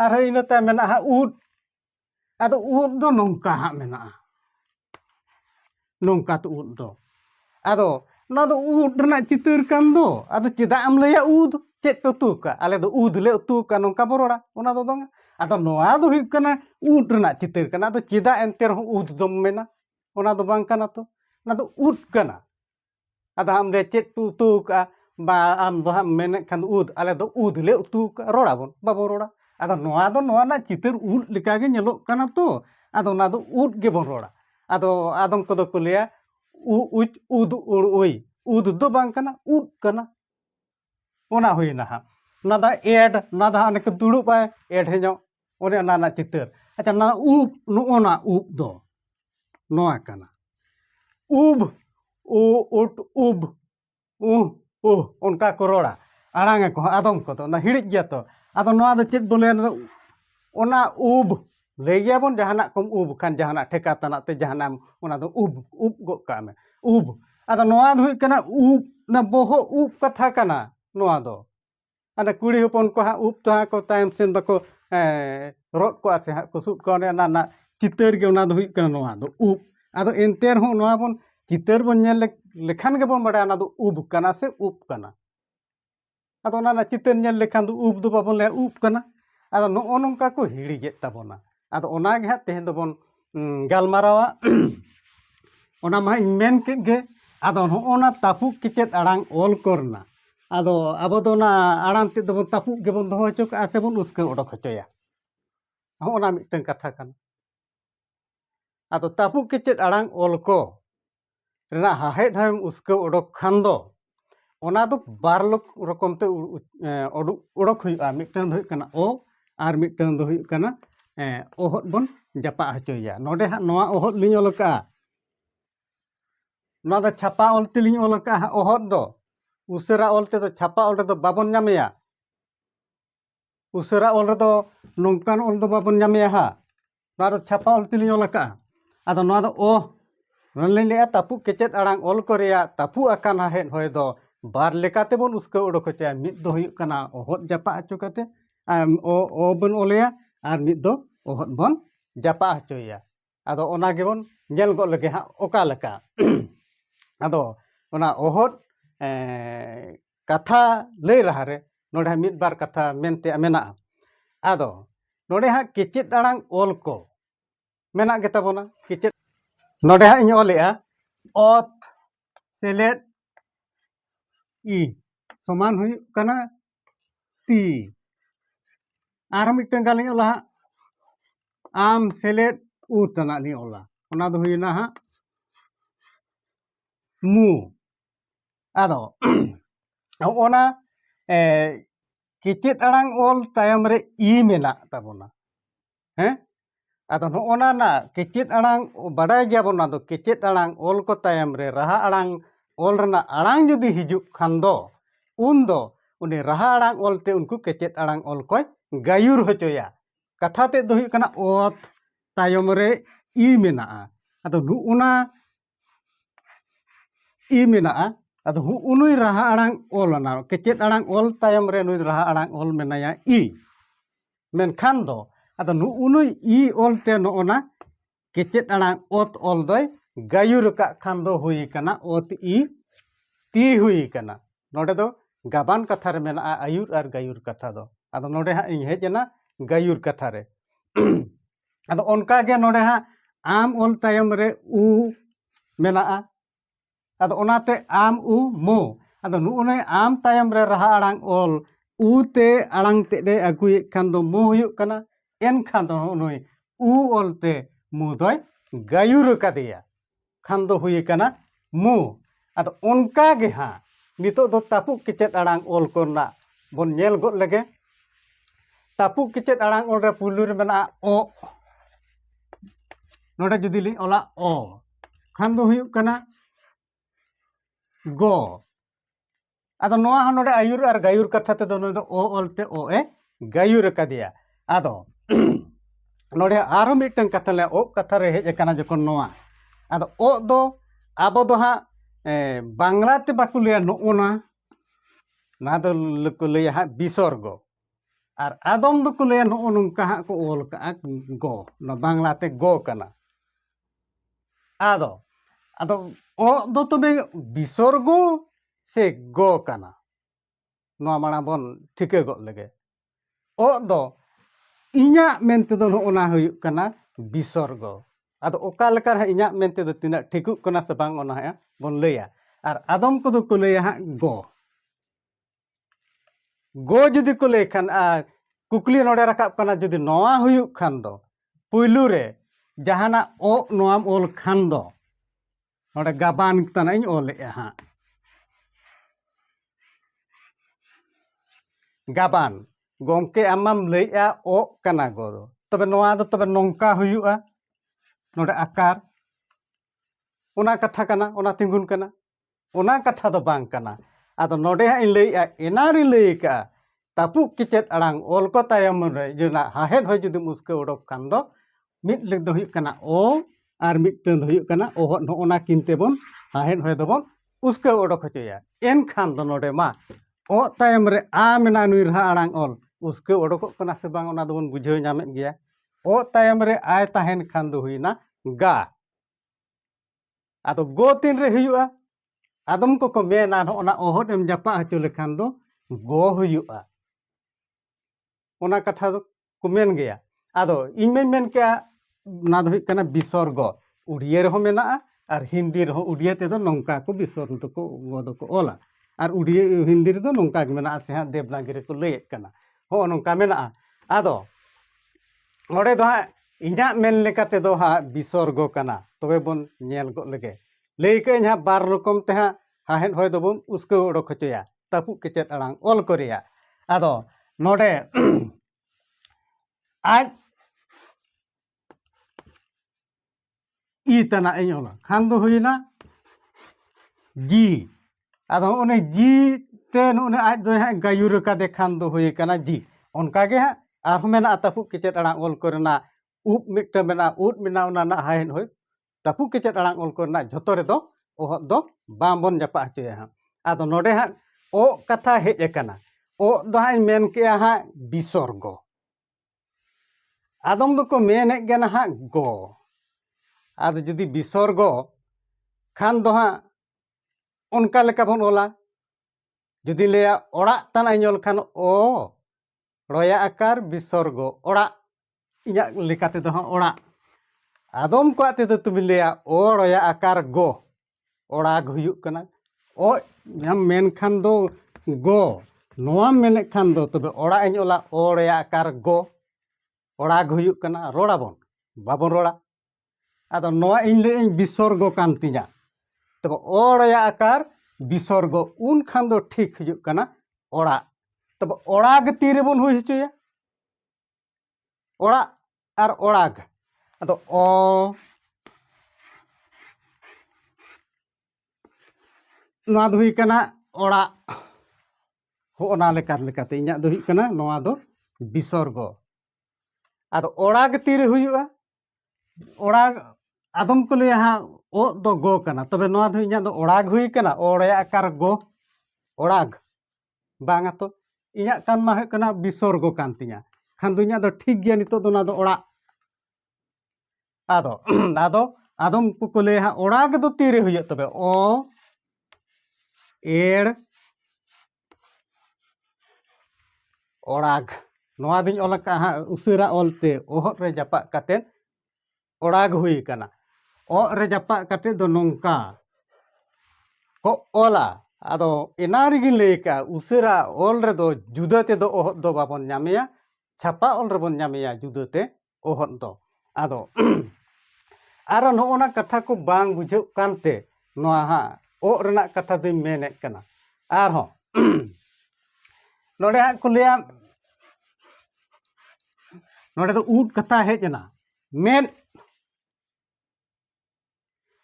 ᱟᱨᱦᱚᱸ ᱤᱱᱟᱹ ᱛᱟᱭᱚᱢ ᱢᱮᱱᱟᱜᱼᱟ ᱩᱫ ᱟᱫᱚ ᱩᱫ ᱫᱚ ᱱᱚᱝᱠᱟ ᱦᱟᱸᱜ ᱢᱮᱱᱟᱜᱼᱟ ᱱᱚᱝᱠᱟ ᱛᱚ ᱩᱫ ᱫᱚ ᱟᱫᱚ ᱱᱚᱣᱟ ᱫᱚ ᱩᱫ ᱨᱮᱱᱟᱜ ᱪᱤᱛᱟᱹᱨ ᱠᱟᱱ ᱫᱚ ᱟᱫᱚ ᱪᱮᱫᱟᱜ ᱮᱢ ᱞᱟᱹᱭᱟ ᱩᱫ ᱪᱮᱫ ᱯᱮ ᱩᱛᱩ ᱟᱠᱟᱫ ᱟᱞᱮ ᱫᱚ ᱩᱫ ᱞᱮ ᱩᱛᱩ ᱟᱠᱟᱫ ᱱᱚᱝᱠᱟ ᱵᱚ ᱨᱚᱲᱟ ᱚᱱᱟ ᱫᱚ ᱵᱟᱝᱟ ᱟᱫᱚ ᱱᱚᱣᱟ ᱫᱚ ᱦᱩᱭᱩᱜ ᱠᱟᱱᱟ ᱩᱫ ᱨᱮᱱᱟᱜ ᱪᱤᱛᱟᱹᱨ ᱠᱟᱱᱟ ᱟᱫᱚ ᱪᱮᱫᱟᱜ ᱮᱱᱛᱮ ᱨᱮᱦᱚᱸ ᱩᱫ ᱫᱚᱢ ᱢᱮᱱᱟ ᱚᱱᱟ ᱫᱚ ᱵᱟᱝ ᱠᱟᱱᱟ ᱛᱚ ᱚᱱᱟ ᱫᱚ ᱩᱫ ᱠᱟᱱᱟ ᱟᱫᱚ ᱟᱢ ᱞᱮ ᱪᱮᱫ ᱯᱮ ᱩᱛᱩ ᱟᱠᱟᱫᱼᱟ ᱵᱟ ᱟᱢ ᱫᱚ ᱦᱟᱸᱜ ᱢᱮᱱᱮᱫ ᱠᱷᱟᱱ ᱩᱫ ᱟᱞᱮ ᱫᱚ ᱩᱫ ᱞᱮ ᱩᱛᱩ ᱟᱠᱟᱫᱼᱟ ᱨᱚᱲ ᱟᱵᱚᱱ ᱵᱟᱵᱚᱱ ᱨᱚᱲᱟ ᱟᱫᱚ ᱱᱚᱣᱟ ᱫᱚ ᱱᱚᱣᱟ ᱨᱮᱱᱟᱜ ᱪᱤᱛᱟᱹᱨ ᱩᱫ ᱞᱮᱠᱟ ᱜᱮ ᱧᱮᱞᱚᱜ ᱠᱟᱱᱟ ᱛᱚ ᱟᱫᱚ ᱚᱱᱟ ᱫᱚ ᱩᱫ ᱜᱮᱵᱚᱱ ᱨᱚᱲᱟ ᱟᱫᱚ ᱟᱫᱚᱢ ᱠᱚᱫᱚ ᱠᱚ ᱞᱟᱹᱭᱟ ᱩ ᱩᱪ ᱩᱫ ᱩᱲ ᱩᱭ ᱩᱫ ᱫᱚ ᱵᱟᱝ ᱠᱟᱱᱟ ᱩᱫ ᱠᱟᱱᱟ ᱚᱱᱟ ᱦᱩᱭᱱᱟ ᱦᱟᱸᱜ ᱚᱱᱟ ᱫᱚ ᱮᱰ ᱚᱱᱟ ᱫᱚ ᱦᱟᱸᱜ ᱚᱱᱮ ᱫᱩᱲᱩᱵ ᱟᱭ ᱮᱰ ᱧᱚᱜ ᱚᱱᱮ ᱚᱱᱟ ᱨᱮᱱᱟᱜ ᱪᱤᱛᱟᱹᱨ ᱟᱪᱪᱷᱟ ᱚᱱᱟ ᱩᱵ ᱱᱚᱜᱼᱚ ᱱᱟ ᱩᱵ ᱫᱚ ᱱᱚᱣᱟ ᱠᱟᱱᱟ ᱩᱵ ᱩ ᱩᱴ ᱩᱵ ᱩ ᱩ ᱚᱱᱠᱟ ᱠᱚ ᱨᱚᱲᱟ ᱟᱲᱟᱝ ᱟᱠᱚ ᱟᱫᱚᱢ ᱠᱚᱫᱚ ᱚᱱᱟ ᱦᱤᱲᱤᱡ ᱜᱮᱭᱟ ᱛᱚ ᱟᱫᱚ ᱱᱚᱣᱟ ᱫᱚ ᱪᱮᱫ ᱵᱚᱱ ᱞᱟᱹᱭᱟ ᱚᱱᱟ ᱩᱵ ᱞᱟᱹᱭ ᱜᱮᱭᱟᱵᱚᱱ ᱡᱟᱦᱟᱱᱟᱜ ᱠᱚᱢ ᱩᱵ ᱠᱷᱟᱱ ᱡᱟᱦᱟᱱᱟᱜ ᱴᱷᱮᱠᱟ ᱛᱟᱱᱟᱜ ᱛᱮ ᱡᱟᱦᱟᱱᱟᱜ ᱚᱱᱟ ᱫᱚ ᱩᱵ ᱩᱵ ᱜᱚᱫ ᱠᱟᱜ ᱢᱮ ᱩᱵ ᱟᱫᱚ ᱱᱚᱣᱟ ᱫᱚ ᱦᱩᱭᱩᱜ ᱠᱟᱱᱟ ᱩᱵ ᱚᱱᱟ ᱵᱚᱦᱚᱜ ᱩᱵ ᱠᱟᱛᱷᱟ ᱠᱟᱱᱟ ᱱᱚᱣᱟ ᱫᱚ ᱟᱫᱚ ᱠᱩᱲᱤ ᱦᱚᱯᱚᱱ ᱠᱚ ᱦᱟᱸᱜ ᱩᱵ ᱛᱚ ᱦᱟᱸᱜ ᱠᱚ ᱛᱟᱭᱚᱢ ᱥᱮᱱ ᱫᱚᱠᱚ ᱨᱚᱫ ᱠᱚᱜᱼᱟ ᱥᱮ ᱦᱟᱸᱜ ᱠᱚ ᱥᱩᱫ ᱠᱚᱜᱼᱟ ᱚᱱᱮ ᱚᱱᱟ ᱨᱮᱱᱟᱜ ᱪᱤᱛᱟᱹᱨ ᱜᱮ ᱚᱱᱟ ᱫᱚ ᱦᱩᱭᱩᱜ ᱠᱟᱱᱟ ᱱᱚᱣᱟ ᱫᱚ ᱩᱵ ᱟᱫᱚ ᱮᱱᱛᱮ ᱨᱮᱦᱚᱸ ᱱᱚᱣᱟ ᱵᱚᱱ ᱪᱤᱛᱟᱹᱨ ᱵᱚᱱ ᱧᱮᱞ ᱞᱮᱠᱷᱟᱱ ᱜᱮᱵᱚᱱ ᱵᱟᱲᱟᱭᱟ ᱚᱱᱟ ᱫᱚ ᱩᱵ ᱠᱟᱱᱟ ᱥᱮ ᱩᱵ ᱠᱟᱱᱟ ᱟᱫᱚ ᱚᱱᱟ ᱨᱮᱱᱟᱜ ᱪᱤᱛᱟᱹᱨ ᱧᱮᱞ ᱞᱮᱠᱷᱟᱱ ᱫᱚ ᱩᱵ ᱫᱚ ᱵᱟᱵᱚᱱ ᱞᱟᱹᱭᱟ ᱩᱵ ᱠᱟᱱᱟ ᱟᱫᱚ ᱱᱚᱜᱼᱚ ᱱᱚᱝᱠᱟ ᱠᱚ ᱦᱤᱲᱤᱡᱮᱫ ᱛᱟᱵᱚᱱᱟ ᱟᱫᱚ ᱚᱱᱟ ᱜᱮ ᱦᱟᱸᱜ ᱛᱮᱦᱮᱧ ᱫᱚᱵᱚᱱ ᱜᱟᱞᱢᱟᱨᱟᱣᱟ ᱚᱱᱟ ᱢᱟ ᱤᱧ ᱢᱮᱱ ᱠᱮᱫ ᱜᱮ ᱟᱫᱚ ᱱᱚᱜᱼᱚᱱᱟ ᱛᱟᱹᱯᱩᱜ ᱠᱮᱪᱮᱫ ᱟᱲᱟᱝ ᱚᱞ ᱠᱚᱨᱮᱱᱟᱜ ᱟᱫᱚ ᱟᱵᱚ ᱫᱚ ᱚᱱᱟ ᱟᱲᱟᱝ ᱛᱮᱫ ᱫᱚᱵᱚᱱ ᱛᱟᱹᱯᱩᱜ ᱜᱮᱵᱚᱱ ᱫᱚᱦᱚ ᱦᱚᱪᱚ ᱠᱟᱜᱼᱟ ᱥᱮᱵᱚᱱ ᱩᱥᱠᱟᱹᱣ ᱚᱰᱚᱠ ᱦᱚᱪᱚᱭᱟ ᱦᱚᱸᱜᱼᱚᱱᱟ ᱢᱤᱫᱴᱟᱝ ᱠᱟᱛᱷᱟ ᱠᱟᱱᱟ ᱟᱫᱚ ᱛᱟᱹᱯᱩᱜ ᱠᱮᱪᱮᱫ ᱟᱲᱟᱝ ᱚᱞ ᱠᱚ ᱨᱮᱱᱟᱜ ᱦᱟᱦᱮᱫ ᱦᱚᱸ ᱩᱥᱠᱟᱹᱣ ᱚᱰᱚᱠ ᱠᱷᱟᱱ ᱫᱚ ᱚᱱᱟ ᱫᱚ ᱵᱟᱨ ᱨᱚᱠᱚᱢ ᱛᱮ ᱩᱰᱩᱠ ᱚᱰᱚᱠ ᱦᱩᱭᱩᱜᱼᱟ ᱢᱤᱫᱴᱟᱝ ᱫᱚ ᱦᱩᱭᱩᱜ ᱠᱟᱱᱟ ᱚ ᱟᱨ ᱢᱤᱫᱴᱟᱝ ᱫᱚ ᱦᱩᱭᱩᱜ ᱠᱟᱱᱟ ᱚᱦᱚᱫ ᱵᱚᱱ ᱡᱟᱯᱟᱜ ᱦᱚᱪᱚᱭᱮᱭᱟ ᱱᱚᱰᱮ ᱦᱟᱸᱜ ᱱᱚᱣᱟ ᱚᱦᱚᱫ ᱞᱤᱧ ᱚᱞ ᱠᱟᱜᱼᱟ ᱱᱚᱣᱟ ᱫᱚ ᱪᱷᱟᱯᱟ ᱚᱞ ᱛᱮᱞᱤᱧ ᱚᱞ ᱠᱟᱜᱼᱟ ᱚᱦᱚᱫ ᱫᱚ ᱩᱥᱟᱹᱨᱟ ᱚᱞ ᱛᱮᱫᱚ ᱪᱷᱟᱯᱟ ᱚᱞ ᱨᱮᱫᱚ ᱵᱟᱵᱚᱱ ᱧᱟᱢᱮᱭᱟ ᱩᱥᱟᱹᱨᱟ ᱚᱞ ᱨᱮᱫᱚ ᱱᱚᱝᱠᱟᱱ ᱚᱞ ᱫᱚ ᱵᱟᱵᱚᱱ ᱧᱟᱢᱮᱜᱼᱟ ᱦᱟᱸᱜ ᱱᱚᱣᱟ ᱫᱚ ᱪᱷᱟᱯᱟ ᱚᱞ ᱛᱮᱞᱤᱧ ᱚᱞ ᱟᱠᱟᱫᱼᱟ ᱟᱫᱚ ᱱᱚᱣᱟ ᱫᱚ ᱚᱦ ᱞᱤᱧ ᱞᱟᱹᱭᱮᱫᱼᱟ ᱛᱟᱹᱯᱩᱜ ᱠᱮᱪᱮᱫ ᱟᱲᱟᱝ ᱚᱞ ᱠᱚ ᱨᱮᱭᱟᱜ ᱛᱟᱹᱯᱩᱜ ᱟᱠᱟᱱ ᱦᱟᱦᱮᱫ ᱦᱚᱭ ᱫᱚ ᱵᱟᱨ ᱞᱮᱠᱟ ᱛᱮᱵᱚᱱ ᱩᱥᱠᱟᱹᱣ ᱚᱰᱚᱠ ᱦᱚᱪᱚᱭᱟ ᱢᱤᱫ ᱫᱚ ᱦᱩᱭᱩᱜ ᱠᱟᱱᱟ ᱚᱦᱚᱫ ᱡᱟᱯᱟᱜ ᱦᱚᱪᱚ ᱠᱟᱛᱮ ᱚ ᱚ ᱵᱚᱱ ᱚᱞᱮᱭᱟ ᱟᱨ ᱢᱤᱫ ᱫᱚ ᱚᱦᱚᱫ ᱵᱚᱱ ᱡᱟᱯᱟᱜ ᱦᱚᱪᱚᱭᱮᱭᱟ ᱟᱫᱚ ᱚᱱᱟ ᱜᱮᱵᱚᱱ ᱧᱮᱞ ᱜᱚᱫ ᱞᱮᱜᱮ ᱦᱟᱸᱜ ᱚᱠᱟ ᱞᱮᱠᱟ ᱟᱫᱚ ᱚᱱᱟ ᱚᱦᱚᱫ ᱠᱟᱛᱷᱟ ᱞᱟᱹᱭ ᱞᱟᱦᱟᱨᱮ ᱱᱚᱰᱮ ᱦᱟᱸᱜ ᱢᱤᱫ ᱵᱟᱨ ᱠᱟᱛᱷᱟ ᱢᱮᱱ ᱛᱮᱭᱟᱜ ᱢᱮᱱᱟᱜᱼᱟ ᱟᱫᱚ ᱱᱚᱰᱮ ᱦᱟᱸᱜ ᱠᱮᱪᱮᱫ ᱟᱲᱟᱝ ᱚᱞ ᱠᱚ ᱢᱮᱱᱟᱜ ᱜᱮᱛᱟ ᱵᱚᱱᱟ ᱠᱮᱪᱮᱫ ᱱᱚᱰᱮ ᱦᱟᱸᱜ ᱤᱧ ᱚᱞᱮᱜᱼᱟ ᱚᱛ ᱥᱮᱞᱮᱫ ᱤ ᱥᱚᱢᱟᱱ ᱦᱩᱭᱩᱜ ᱠᱟᱱᱟ ᱛᱤ ᱟᱨ ᱢᱤᱫᱴᱟᱝ ᱜᱟᱱ ᱞᱤᱧ ᱚᱞᱟ ᱦᱟᱸᱜ ᱟᱢ ᱥᱮᱞᱮᱫ ᱩ ᱛᱟᱱᱟᱜ ᱞᱤᱧ ᱚᱞᱟ ᱚᱱᱟ ᱫᱚ ᱦᱩᱭᱱᱟ ᱦᱟᱸᱜ ᱢᱩ ᱟᱫᱚ ᱦᱚᱜᱼᱚᱱᱟ ᱠᱮᱪᱮᱫ ᱟᱲᱟᱝ ᱚᱞ ᱛᱟᱭᱚᱢ ᱨᱮ ᱤ ᱢᱮᱱᱟᱜ ᱛᱟᱵᱚᱱᱟ ᱦᱮᱸ ᱟᱫᱚ ᱱᱚᱜᱼᱚ ᱱᱟ ᱨᱮᱱᱟᱜ ᱠᱮᱪᱮᱫ ᱟᱲᱟᱝ ᱵᱟᱰᱟᱭ ᱜᱮᱭᱟ ᱵᱚᱱ ᱚᱱᱟ ᱫᱚ ᱠᱮᱪᱮᱫ ᱟᱲᱟᱝ ᱚᱞ ᱠᱚ ᱛᱟᱭᱚᱢ ᱨᱮ ᱨᱟᱦᱟ ᱟᱲᱟᱝ ᱚᱞ ᱨᱮᱱᱟᱜ ᱟᱲᱟᱝ ᱡᱩᱫᱤ ᱦᱤᱡᱩᱜ ᱠᱷᱟᱱ ᱫᱚ ᱩᱱ ᱫᱚ ᱩᱱᱤ ᱨᱟᱦᱟ ᱟᱲᱟᱝ ᱚᱞ ᱛᱮ ᱩᱱᱠᱩ ᱠᱮᱪᱮᱫ ᱟᱲᱟᱝ ᱚᱞ ᱠᱚᱭ ᱜᱟᱹᱭᱩᱨ ᱦᱚᱪᱚᱭᱟ ᱠᱟᱛᱷᱟ ᱛᱮᱫ ᱫᱚ ᱦᱩᱭᱩᱜ ᱠᱟᱱᱟ ᱚᱛ ᱛᱟᱭᱚᱢ ᱨᱮ ᱤ ᱢᱮᱱᱟᱜᱼᱟ ᱟᱫᱚ ᱱᱚᱜᱼᱚ ᱱᱟ ᱤ ᱢᱮᱱᱟᱜᱼᱟ ᱟᱫᱚ ᱦᱩᱜᱼᱩ ᱱᱩᱭ ᱨᱟᱦᱟ ᱟᱲᱟᱝ ᱚᱞ ᱟᱱᱟ ᱠᱮᱪᱮᱫ ᱟᱲᱟᱝ ᱚᱞ ᱛᱟᱭᱚᱢ ᱨᱮ ᱱᱩᱭ ᱨᱟᱦᱟ ᱟᱲᱟᱝ ᱚᱞ ᱢᱮᱱᱟᱭᱟ ᱤ ᱢᱮᱱᱠᱷᱟᱱ ᱫᱚ ᱟᱫᱚ ᱱᱩᱜᱼᱩ ᱱᱩᱭ ᱤ ᱚᱞ ᱛᱮ ᱱᱚᱜᱼᱚᱱᱟ ᱠᱮᱪᱮᱫ ᱟᱲᱟᱝ ᱚᱛ ᱚᱞ ᱫᱚᱭ ᱜᱟᱹᱭᱩᱨ ᱟᱠᱟᱫ ᱠᱷᱟᱱ ᱫᱚ ᱦᱩᱭ ᱟᱠᱟᱱᱟ ᱚᱛ ᱤ ᱛᱤ ᱦᱩᱭ ᱟᱠᱟᱱᱟ ᱱᱚᱰᱮ ᱫᱚ ᱜᱟᱵᱟᱱ ᱠᱟᱛᱷᱟ ᱨᱮ ᱢᱮᱱᱟᱜᱼᱟ ᱟᱹᱭᱩᱨ ᱟᱨ ᱜᱟᱹᱭᱩᱨ ᱠᱟᱛᱷᱟ ᱫᱚ ᱟᱫᱚ ᱱᱚᱰᱮ ᱦᱟᱸᱜ ᱤᱧ ᱦᱮᱡ ᱮᱱᱟ ᱜᱟᱹᱭᱩᱨ ᱠᱟᱛᱷᱟ ᱨᱮ ᱟᱫᱚ ᱚᱱᱠᱟ ᱜᱮ ᱱᱚᱰᱮ ᱦᱟᱸᱜ ᱟᱢ ᱚᱞ ᱛᱟᱭᱚᱢ ᱨᱮ ᱩ ᱢᱮᱱᱟᱜᱼᱟ ᱟᱫᱚ ᱚᱱᱟᱛᱮ ᱟᱢ ᱩ ᱢᱳ ᱟᱫᱚ ᱱᱩᱜᱼᱩ ᱱᱩᱭ ᱟᱢ ᱛᱟᱭᱚᱢ ᱨᱮ ᱨᱟᱦᱟ ᱟᱲᱟᱝ ᱚᱞ ᱩ ᱛᱮ ᱟᱲᱟᱝ ᱛᱮᱫ ᱮ ᱟᱹᱜᱩᱭᱮᱫ ᱠᱷᱟᱱ ᱫᱚ ᱢᱳ ᱦᱩᱭᱩᱜ ᱠᱟᱱᱟ ᱮᱱᱠᱷᱟᱱ ᱫᱚ ᱱᱩᱜᱼᱩ ᱱᱩᱭ ᱩ ᱚᱞ ᱛᱮ ᱢᱳ ᱫᱚᱭ ᱜᱟᱹᱭᱩᱨ ᱟᱠᱟᱫᱮᱭᱟ ᱠᱷᱟᱱ ᱫᱚ ᱦᱩᱭ ᱟᱠᱟᱱᱟ ᱢᱩ ᱟᱫᱚ ᱚᱱᱠᱟ ᱜᱮ ᱦᱟᱸᱜ ᱱᱤᱛᱚᱜ ᱫᱚ ᱛᱟᱹᱯᱩᱜ ᱠᱮᱪᱮᱫ ᱟᱲᱟᱝ ᱚᱞ ᱠᱚᱨᱮᱱᱟᱜ ᱵᱚᱱ ᱧᱮᱞ ᱜᱚᱫ ᱞᱮᱜᱮ ᱛᱟᱹᱯᱩᱜ ᱠᱮᱪᱮᱫ ᱟᱲᱟᱝ ᱚᱞ ᱨᱮ ᱯᱩᱭᱞᱩ ᱨᱮ ᱢᱮᱱᱟᱜᱼᱟ ᱚ ᱱᱚᱰᱮ ᱡᱩᱫᱤ ᱞᱤᱧ ᱚᱞᱟ ᱚ ᱠᱷᱟᱱ ᱫᱚ ᱦᱩᱭᱩᱜ ᱠᱟᱱᱟ ᱜᱚ ᱟᱫᱚ ᱱᱚᱣᱟ ᱦᱚᱸ ᱱᱚᱰᱮ ᱟᱹᱭᱩᱨ ᱟᱨ ᱜᱟᱹᱭᱩᱨ ᱠᱟᱛᱷᱟ ᱛᱮᱫᱚ ᱱᱩᱭ ᱫᱚ ᱚ ᱚᱞᱛᱮ ᱚ ᱮ ᱜᱟᱹᱭᱩᱨ ᱟᱠᱟᱫᱮᱭᱟ ᱟᱫᱚ ᱱᱚᱰᱮ ᱟᱨᱦᱚᱸ ᱢᱤᱫᱴᱟᱝ ᱠᱟᱛᱷᱟ ᱞᱮ ᱚᱜ ᱠᱟᱛᱷᱟ ᱨᱮ ᱦᱮᱡ ᱟᱠᱟᱱᱟ ᱡᱚᱠᱷᱚᱱ ᱱᱚᱣᱟ ᱟᱫᱚ ᱚᱜ ᱫᱚ ᱟᱵᱚ ᱫᱚ ᱦᱟᱸᱜ ᱵᱟᱝᱞᱟᱛᱮ ᱵᱟᱠᱚ ᱞᱟᱹᱭᱟ ᱱᱚᱜᱼᱚ ᱱᱚᱣᱟ ᱱᱚᱣᱟ ᱫᱚ ᱠᱚ ᱞᱟᱹᱭᱟ ᱦᱟᱸᱜ ᱵᱤᱥᱚᱨᱜᱚ ᱟᱨ ᱟᱫᱚᱢ ᱫᱚᱠᱚ ᱞᱟᱹᱭᱟ ᱱᱚᱜᱼᱚ ᱱᱚᱝᱠᱟ ᱦᱟᱸᱜ ᱠᱚ ᱚᱞ ᱠᱟᱜᱼᱟ ᱜᱚ ᱱᱚᱣᱟ ᱵᱟᱝᱞᱟᱛᱮ ᱜᱚ ᱠᱟᱱᱟ ᱟᱫᱚ ᱟᱫᱚ ᱚᱜ ᱫᱚ ᱛᱚᱵᱮ ᱵᱤᱥᱚᱨᱜᱚ ᱥᱮ ᱜᱚ ᱠᱟᱱᱟ ᱱᱚᱣᱟ ᱢᱟᱲᱟᱝ ᱵᱚᱱ ᱴᱷᱤᱠᱟᱹ ᱜᱚᱫ ᱞᱮᱜᱮ ᱚᱜ ᱫᱚ ᱤᱧᱟᱹᱜ ᱢᱮᱱ ᱛᱮᱫᱚ ᱱᱚᱜᱼᱚ ᱱᱟ ᱦᱩᱭᱩᱜ ᱠᱟᱱᱟ ᱵᱤᱥᱚᱨᱜᱚ ᱟᱫᱚ ᱚᱠᱟ ᱞᱮᱠᱟ ᱦᱟᱸᱜ ᱤᱧᱟᱹᱜ ᱢᱮᱱ ᱛᱮᱫᱚ ᱛᱤᱱᱟᱹᱜ ᱴᱷᱤᱠᱚᱜ ᱠᱟᱱᱟ ᱥᱮ ᱵᱟᱝ ᱚᱱᱟ ᱦᱟᱸᱜ ᱵᱚᱱ ᱞᱟᱹᱭᱟ ᱟᱨ ᱟᱫᱚᱢ ᱠᱚᱫᱚ ᱠᱚ ᱞᱟᱹᱭᱟ ᱦᱟᱸᱜ ᱜᱚ ᱜᱚ ᱡᱩᱫᱤ ᱠᱚ ᱞᱟᱹᱭ ᱠᱷᱟᱱ ᱟᱨ ᱠᱩᱠᱞᱤ ᱱᱚᱰᱮ ᱨᱟᱠᱟᱵ ᱠᱟᱱᱟ ᱡᱩᱫᱤ ᱱᱚᱣᱟ ᱦᱩᱭᱩᱜ ᱠᱷᱟᱱ ᱫᱚ ᱯᱩᱭᱞᱩ ᱨᱮ ᱡᱟᱦᱟᱱᱟᱜ ᱚᱜ ᱱᱚᱣᱟᱢ ᱚᱞ ᱠᱷᱟᱱ ᱫᱚ ᱱᱚᱰᱮ ᱜᱟᱵᱟᱱ ᱛᱟᱱᱟᱜ ᱤᱧ ᱚᱞᱮᱜᱼᱟ ᱦᱟᱸᱜ ᱜᱟᱵᱟᱱ ᱜᱚᱢᱠᱮ ᱟᱢᱟᱢ ᱞᱟᱹᱭᱮᱜᱼᱟ ᱚᱜ ᱠᱟᱱᱟ ᱜᱚ ᱫᱚ ᱛᱚᱵᱮ ᱱᱚᱣᱟ ᱫᱚ ᱛᱚᱵᱮ ᱱᱚᱝᱠᱟ ᱦᱩᱭᱩᱜᱼᱟ ᱱᱚᱰᱮ ᱟᱠᱟᱨ ᱚᱱᱟ ᱠᱟᱛᱷᱟ ᱠᱟᱱᱟ ᱚᱱᱟ ᱛᱤᱸᱜᱩᱱ ᱠᱟᱱᱟ ᱚᱱᱟ ᱠᱟᱛᱷᱟ ᱫᱚ ᱵᱟᱝ ᱠᱟᱱᱟ ᱟᱫᱚ ᱱᱚᱰᱮ ᱦᱟᱸᱜ ᱤᱧ ᱞᱟᱹᱭᱮᱫᱼᱟ ᱮᱱᱟᱱ ᱨᱤᱧ ᱞᱟᱹᱭ ᱟᱠᱟᱫᱼᱟ ᱛᱟᱹᱯᱩᱜ ᱠᱮᱪᱮᱫ ᱟᱲᱟᱝ ᱚᱞ ᱠᱚ ᱛᱟᱭᱚᱢ ᱨᱮ ᱨᱮᱱᱟᱜ ᱦᱟᱦᱮᱫ ᱦᱚᱸ ᱡᱩᱫᱤᱢ ᱩᱥᱠᱟᱹ ᱚᱰᱚᱠ ᱠᱷᱟᱱ ᱫᱚ ᱢᱤᱫ ᱞᱮᱠ ᱫᱚ ᱦᱩᱭᱩᱜ ᱠᱟᱱᱟ ᱚ ᱟᱨ ᱢᱤᱫᱴᱟᱹᱝ ᱫᱚ ᱦᱩᱭᱩᱜ ᱠᱟᱱᱟ ᱚᱦᱚᱫ ᱱᱚᱜᱼᱚ ᱱᱟ ᱠᱤᱱ ᱛᱮᱵᱚᱱ ᱦᱟᱦᱮᱫ ᱦᱚᱭ ᱫᱚᱵᱚᱱ ᱩᱥᱠᱟᱹᱣ ᱚᱰᱚᱠ ᱦᱚᱪᱚᱭᱟ ᱮᱱᱠᱷᱟᱱ ᱫᱚ ᱱᱚᱰᱮ ᱢᱟ ᱚ ᱛᱟᱭᱚᱢ ᱨᱮ ᱟ ᱢᱮᱱᱟᱜᱼᱟ ᱱᱩᱭ ᱨᱟᱦᱟ ᱟᱲᱟᱝ ᱚᱞ ᱩᱥᱠᱟᱹᱣ ᱚᱰᱚᱠᱚᱜ ᱠᱟᱱᱟ ᱥᱮ ᱵᱟᱝ ᱚᱱᱟ ᱫᱚᱵᱚᱱ ᱵᱩᱡᱷᱟᱹᱣ ᱧᱟᱢᱮᱫ ᱜᱮᱭᱟ ᱚ ᱛᱟᱭᱚᱢ ᱨᱮ ᱟᱭ ᱛᱟᱦᱮᱱ ᱠᱷᱟᱱ ᱫᱚ ᱦᱩᱭᱱᱟ ᱜᱟ ᱟᱫᱚ ᱜᱚ ᱛᱤᱱ ᱨᱮ ᱦᱩᱭᱩᱜᱼᱟ ᱟᱫᱚᱢ ᱠᱚᱠᱚ ᱢᱮᱱᱟ ᱱᱚᱜᱼᱚ ᱱᱟ ᱚᱦᱚᱫ ᱮᱢ ᱡᱟᱯᱟᱜ ᱦᱚᱪᱚ ᱞᱮᱠᱷᱟᱱ ᱫᱚ ᱜᱚ ᱦᱩᱭᱩᱜᱼᱟ ᱚᱱᱟ ᱠᱟᱛᱷᱟ ᱫᱚ ᱠᱚ ᱢᱮᱱ ᱜᱮᱭᱟ ᱟᱫᱚ ᱤᱧ ᱢᱟᱹᱧ ᱢᱮᱱ ᱠᱮᱜᱼᱟ ᱚᱱᱟ ᱫᱚ ᱦᱩᱭᱩᱜ ᱠᱟᱱᱟ ᱵᱤᱥᱚᱨᱜᱚ ᱩᱰᱤᱭᱟᱹ ᱨᱮᱦᱚᱸ ᱢᱮᱱᱟᱜᱼᱟ ᱟᱨ ᱦᱤᱱᱫᱤ ᱨᱮᱦᱚᱸ ᱩᱰᱤᱭᱟᱹ ᱛᱮᱫᱚ ᱱᱚᱝᱠᱟ ᱠᱚ ᱵᱤᱥᱚᱨ ᱫᱚᱠᱚ ᱜᱚ ᱫᱚᱠᱚ ᱚᱞᱟ ᱟᱨ ᱩᱰᱤᱭᱟᱹ ᱦᱤᱱᱫᱤ ᱨᱮᱫᱚ ᱱᱚᱝᱠᱟ ᱜᱮ ᱢᱮᱱᱟᱜᱼᱟ ᱥᱮ ᱦᱟᱸᱜ ᱫᱮᱵᱽᱱᱟᱜᱤᱨᱤ ᱠᱚ ᱞᱟᱹᱭᱮᱫ ᱠᱟᱱᱟ ᱦᱚᱸᱜᱼᱚ ᱱᱚᱝᱠᱟ ᱢᱮᱱᱟᱜᱼᱟ ᱟᱫᱚ ᱱᱚᱰᱮ ᱫᱚ ᱦᱟᱸᱜ ᱤᱧᱟᱹᱜ ᱢᱮᱱ ᱞᱮᱠᱟ ᱛᱮᱫᱚ ᱦᱟᱸᱜ ᱵᱤᱥᱚᱨᱜᱚ ᱠᱟᱱᱟ ᱛᱚᱵᱮ ᱵᱚᱱ ᱧᱮᱞ ᱜᱚᱫ ᱞᱮᱜᱮ ᱞᱟᱹᱭ ᱠᱟᱜ ᱟᱹᱧ ᱦᱟᱸᱜ ᱵᱟᱨ ᱨᱚᱠᱚᱢ ᱛᱮ ᱦᱟᱸᱜ ᱦᱟᱦᱮᱫ ᱦᱚᱭ ᱫᱚᱵᱚᱱ ᱩᱥᱠᱟᱹᱣ ᱚᱰᱚᱠ ᱦᱚᱪᱚᱭᱟ ᱛᱟᱹᱯᱩᱜ ᱠᱮᱪᱮᱫ ᱟᱲᱟᱝ ᱚᱞ ᱠᱚ ᱨᱮᱭᱟᱜ ᱟᱫᱚ ᱱᱚᱰᱮ ᱟᱡ ᱤ ᱛᱟᱱᱟᱜ ᱤᱧ ᱚᱞᱟ ᱠᱷᱟᱱ ᱫᱚ ᱦᱩᱭᱱᱟ ᱡᱤ ᱟᱫᱚ ᱚᱱᱮ ᱡᱤ ᱛᱮ ᱱᱚᱜᱼᱚᱭ ᱟᱡ ᱫᱚ ᱦᱟᱸᱜ ᱜᱟᱹᱭᱩᱨ ᱟᱠᱟᱫᱮ ᱠᱷᱟᱱ ᱫᱚ ᱦᱩᱭ ᱠᱟᱱᱟ ᱡᱤ ᱚᱱᱠᱟᱜᱮ ᱦᱟᱸᱜ ᱟᱨᱦᱚᱸ ᱢᱮᱱᱟᱜᱼᱟ ᱛᱟᱹᱯᱩᱜ ᱠᱮᱪᱮᱫ ᱟᱲᱟᱝ ᱚᱞ ᱠᱚᱨᱮᱱᱟᱜ ᱩᱵ ᱢᱤᱫᱴᱟᱝ ᱢᱮᱱᱟᱜᱼᱟ ᱩᱫ ᱢᱮᱱᱟᱜᱼᱟ ᱚᱱᱟ ᱨᱮᱱᱟᱜ ᱦᱟᱭᱮᱱ ᱦᱳᱭ ᱛᱟᱹᱯᱩᱜ ᱠᱮᱪᱮᱫ ᱟᱲᱟᱝ ᱚᱞ ᱠᱚᱨᱮᱱᱟᱜ ᱡᱷᱚᱛᱚ ᱨᱮᱫᱚ ᱚᱦᱚᱫ ᱫᱚ ᱵᱟᱝᱵᱚᱱ ᱡᱟᱯᱟᱜ ᱦᱚᱪᱚᱭᱟ ᱦᱟᱸᱜ ᱟᱫᱚ ᱱᱚᱰᱮ ᱦᱟᱸᱜ ᱚᱜ ᱠᱟᱛᱷᱟ ᱦᱮᱡ ᱟᱠᱟᱱᱟ ᱚᱜ ᱫᱚ ᱦᱟᱸᱜ ᱤᱧ ᱢᱮᱱ ᱠᱮᱜᱼᱟ ᱦᱟᱸᱜ ᱵᱤᱥᱚᱨᱜᱚ ᱟᱫᱚᱢ ᱫᱚᱠᱚ ᱢᱮᱱᱮᱫ ᱜᱮ ᱱᱟᱦᱟᱜ ᱜᱚ ᱟᱫᱚ ᱡᱩᱫᱤ ᱵᱤᱥᱚᱨᱜᱚ ᱠᱷᱟᱱ ᱫᱚ ᱦᱟᱸᱜ ᱚᱱᱠᱟ ᱞᱮᱠᱟ ᱵᱚᱱ ᱚᱞᱟ ᱡᱩᱫᱤ ᱞᱟᱹᱭᱟ ᱚᱲᱟᱜ ᱛᱟᱱᱟᱜ ᱤᱧ ᱚᱞ ᱠᱷᱟᱱ ᱚ ᱨᱚᱭᱟ ᱟᱠᱟᱨ ᱵᱤᱥᱚᱨᱜᱚ ᱚᱲᱟᱜ ᱤᱧᱟᱹᱜ ᱞᱮᱠᱟ ᱛᱮᱫᱚ ᱦᱟᱸᱜ ᱚᱲᱟᱜ ᱟᱫᱚᱢ ᱠᱚᱣᱟᱜ ᱛᱮᱫᱚ ᱛᱩᱢᱤ ᱞᱟᱹᱭᱟ ᱚ ᱨᱚᱭᱟ ᱟᱠᱟᱨ ᱜᱚ ᱚᱲᱟᱜᱽ ᱦᱩᱭᱩᱜ ᱠᱟᱱᱟ ᱚᱡ ᱮᱢ ᱢᱮᱱᱠᱷᱟᱱ ᱫᱚ ᱜᱚ ᱱᱚᱣᱟᱢ ᱢᱮᱱᱮᱫ ᱠᱷᱟᱱ ᱫᱚ ᱛᱚᱵᱮ ᱚᱲᱟᱜ ᱤᱧ ᱚᱞᱟ ᱚ ᱨᱮᱭᱟᱜ ᱟᱠᱟᱨ ᱜᱚ ᱚᱲᱟᱜᱽ ᱦᱩᱭᱩᱜ ᱠᱟᱱᱟ ᱨᱚᱲ ᱟᱵᱚᱱ ᱵᱟᱵᱚᱱ ᱨᱚᱲᱟ ᱟᱫᱚ ᱱᱚᱣᱟ ᱤᱧ ᱞᱟᱹᱭᱮᱫ ᱟᱹᱧ ᱵᱤᱥᱚᱨᱜᱚ ᱠᱟᱱ ᱛᱤᱧᱟᱹ ᱛᱚᱵᱮ ᱚ ᱨᱮᱭᱟᱜ ᱟᱠᱟᱨ ᱵᱤᱥᱚᱨᱜᱚ ᱩᱱ ᱠᱷᱟᱱ ᱫᱚ ᱴᱷᱤᱠ ᱦᱩᱭᱩᱜ ᱠᱟᱱᱟ ᱚᱲᱟᱜ ᱛᱚᱵᱮ ᱚᱲᱟᱜᱽ ᱛᱤ ᱨᱮᱵᱚᱱ ᱦᱩᱭ ᱦᱚᱪᱚᱭᱟ ᱚᱲᱟᱜ ᱟᱨ ᱚᱲᱟᱜ ᱟᱫᱚ ᱚ ᱱᱚᱣᱟ ᱫᱚ ᱦᱩᱭ ᱠᱟᱱᱟ ᱚᱲᱟᱜ ᱦᱚᱸᱜᱼᱱᱟ ᱞᱮᱠᱟ ᱞᱮᱠᱟᱛᱮ ᱤᱧᱟᱹᱜ ᱫᱚ ᱦᱩᱭᱩᱜ ᱠᱟᱱᱟ ᱱᱚᱣᱟ ᱫᱚ ᱵᱤᱥᱚᱨᱜᱚ ᱟᱫᱚ ᱚᱲᱟᱜ ᱛᱤᱨᱮ ᱦᱩᱭᱩᱜᱼᱟ ᱚᱲᱟᱜ ᱟᱫᱚᱢ ᱠᱚ ᱞᱟᱹᱭᱟ ᱦᱟᱸᱜ ᱚᱜ ᱫᱚ ᱜᱚ ᱠᱟᱱᱟ ᱛᱚᱵᱮ ᱱᱚᱣᱟ ᱫᱚ ᱤᱧᱟᱹᱜ ᱫᱚ ᱚᱲᱟᱜ ᱦᱩᱭ ᱠᱟᱱᱟ ᱚᱲᱮ ᱟᱠᱟᱨ ᱜᱚ ᱚᱲᱟᱜ ᱵᱟᱝᱟ ᱛᱚ ᱤᱧᱟᱹᱜ ᱠᱟᱱ ᱢᱟ ᱦᱩᱭᱩᱜ ᱠᱟᱱᱟ ᱵᱤᱥᱚᱨᱜᱚ ᱠᱟᱱ ᱛᱤᱧᱟ ᱠᱷᱟᱱ ᱫᱚ ᱤᱧᱟᱹᱜ ᱫᱚ ᱴᱷᱤᱠ ᱜᱮᱭᱟ ᱱᱤᱛᱚᱜ ᱫᱚ ᱚᱱᱟ ᱫᱚ ᱚᱲᱟᱜ ᱟᱫᱚ ᱟᱫᱚ ᱟᱫᱚᱢ ᱠᱚᱠᱚ ᱞᱟᱹᱭᱟ ᱦᱟᱸᱜ ᱚᱲᱟᱜ ᱫᱚ ᱛᱤᱨᱮ ᱦᱩᱭᱩᱜ ᱛᱚᱵᱮ ᱚ ᱮᱲ ᱚᱲᱟᱜ ᱱᱚᱣᱟ ᱫᱩᱧ ᱚᱞ ᱟᱠᱟᱫᱼᱟ ᱦᱟᱸᱜ ᱩᱥᱟᱹᱨᱟ ᱚᱞᱛᱮ ᱚᱦᱚᱫ ᱨᱮ ᱡᱟᱯᱟᱜ ᱠᱟᱛᱮᱫ ᱚᱲᱟᱜ ᱦᱩᱭ ᱟᱠᱟᱱᱟ ᱚᱜ ᱨᱮ ᱡᱟᱯᱟᱜ ᱠᱟᱛᱮ ᱫᱚ ᱱᱚᱝᱠᱟ ᱠᱚ ᱚᱞᱟ ᱟᱫᱚ ᱮᱱᱟ ᱨᱮᱜᱮᱧ ᱞᱟᱹᱭ ᱟᱠᱟᱫᱼᱟ ᱩᱥᱟᱹᱨᱟ ᱚᱞ ᱨᱮᱫᱚ ᱡᱩᱫᱟᱹ ᱛᱮᱫᱚ ᱚᱦᱚᱫ ᱫᱚ ᱵᱟᱵᱚᱱ ᱧᱟᱢᱮᱭᱟ ᱪᱷᱟᱯᱟ ᱚᱞ ᱨᱮᱵᱚᱱ ᱧᱟᱢᱮᱭᱟ ᱡᱩᱫᱟᱹ ᱛᱮ ᱚᱦᱚᱫ ᱫᱚ ᱟᱫᱚ ᱟᱨᱚ ᱱᱚᱜᱼᱚ ᱱᱟ ᱠᱟᱛᱷᱟ ᱠᱚ ᱵᱟᱝ ᱵᱩᱡᱷᱟᱹᱜ ᱠᱟᱱᱛᱮ ᱱᱚᱣᱟ ᱦᱟᱸᱜ ᱚᱜ ᱨᱮᱱᱟᱜ ᱠᱟᱛᱷᱟ ᱫᱚᱧ ᱢᱮᱱᱮᱫ ᱠᱟᱱᱟ ᱟᱨᱦᱚᱸ ᱱᱚᱰᱮ ᱦᱟᱸᱜ ᱠᱚ ᱞᱟᱹᱭᱟ ᱱᱚᱰᱮ ᱫᱚ ᱩᱫ ᱠᱟᱛᱷᱟ ᱦᱮᱡ ᱮᱱᱟ ᱢᱮᱫ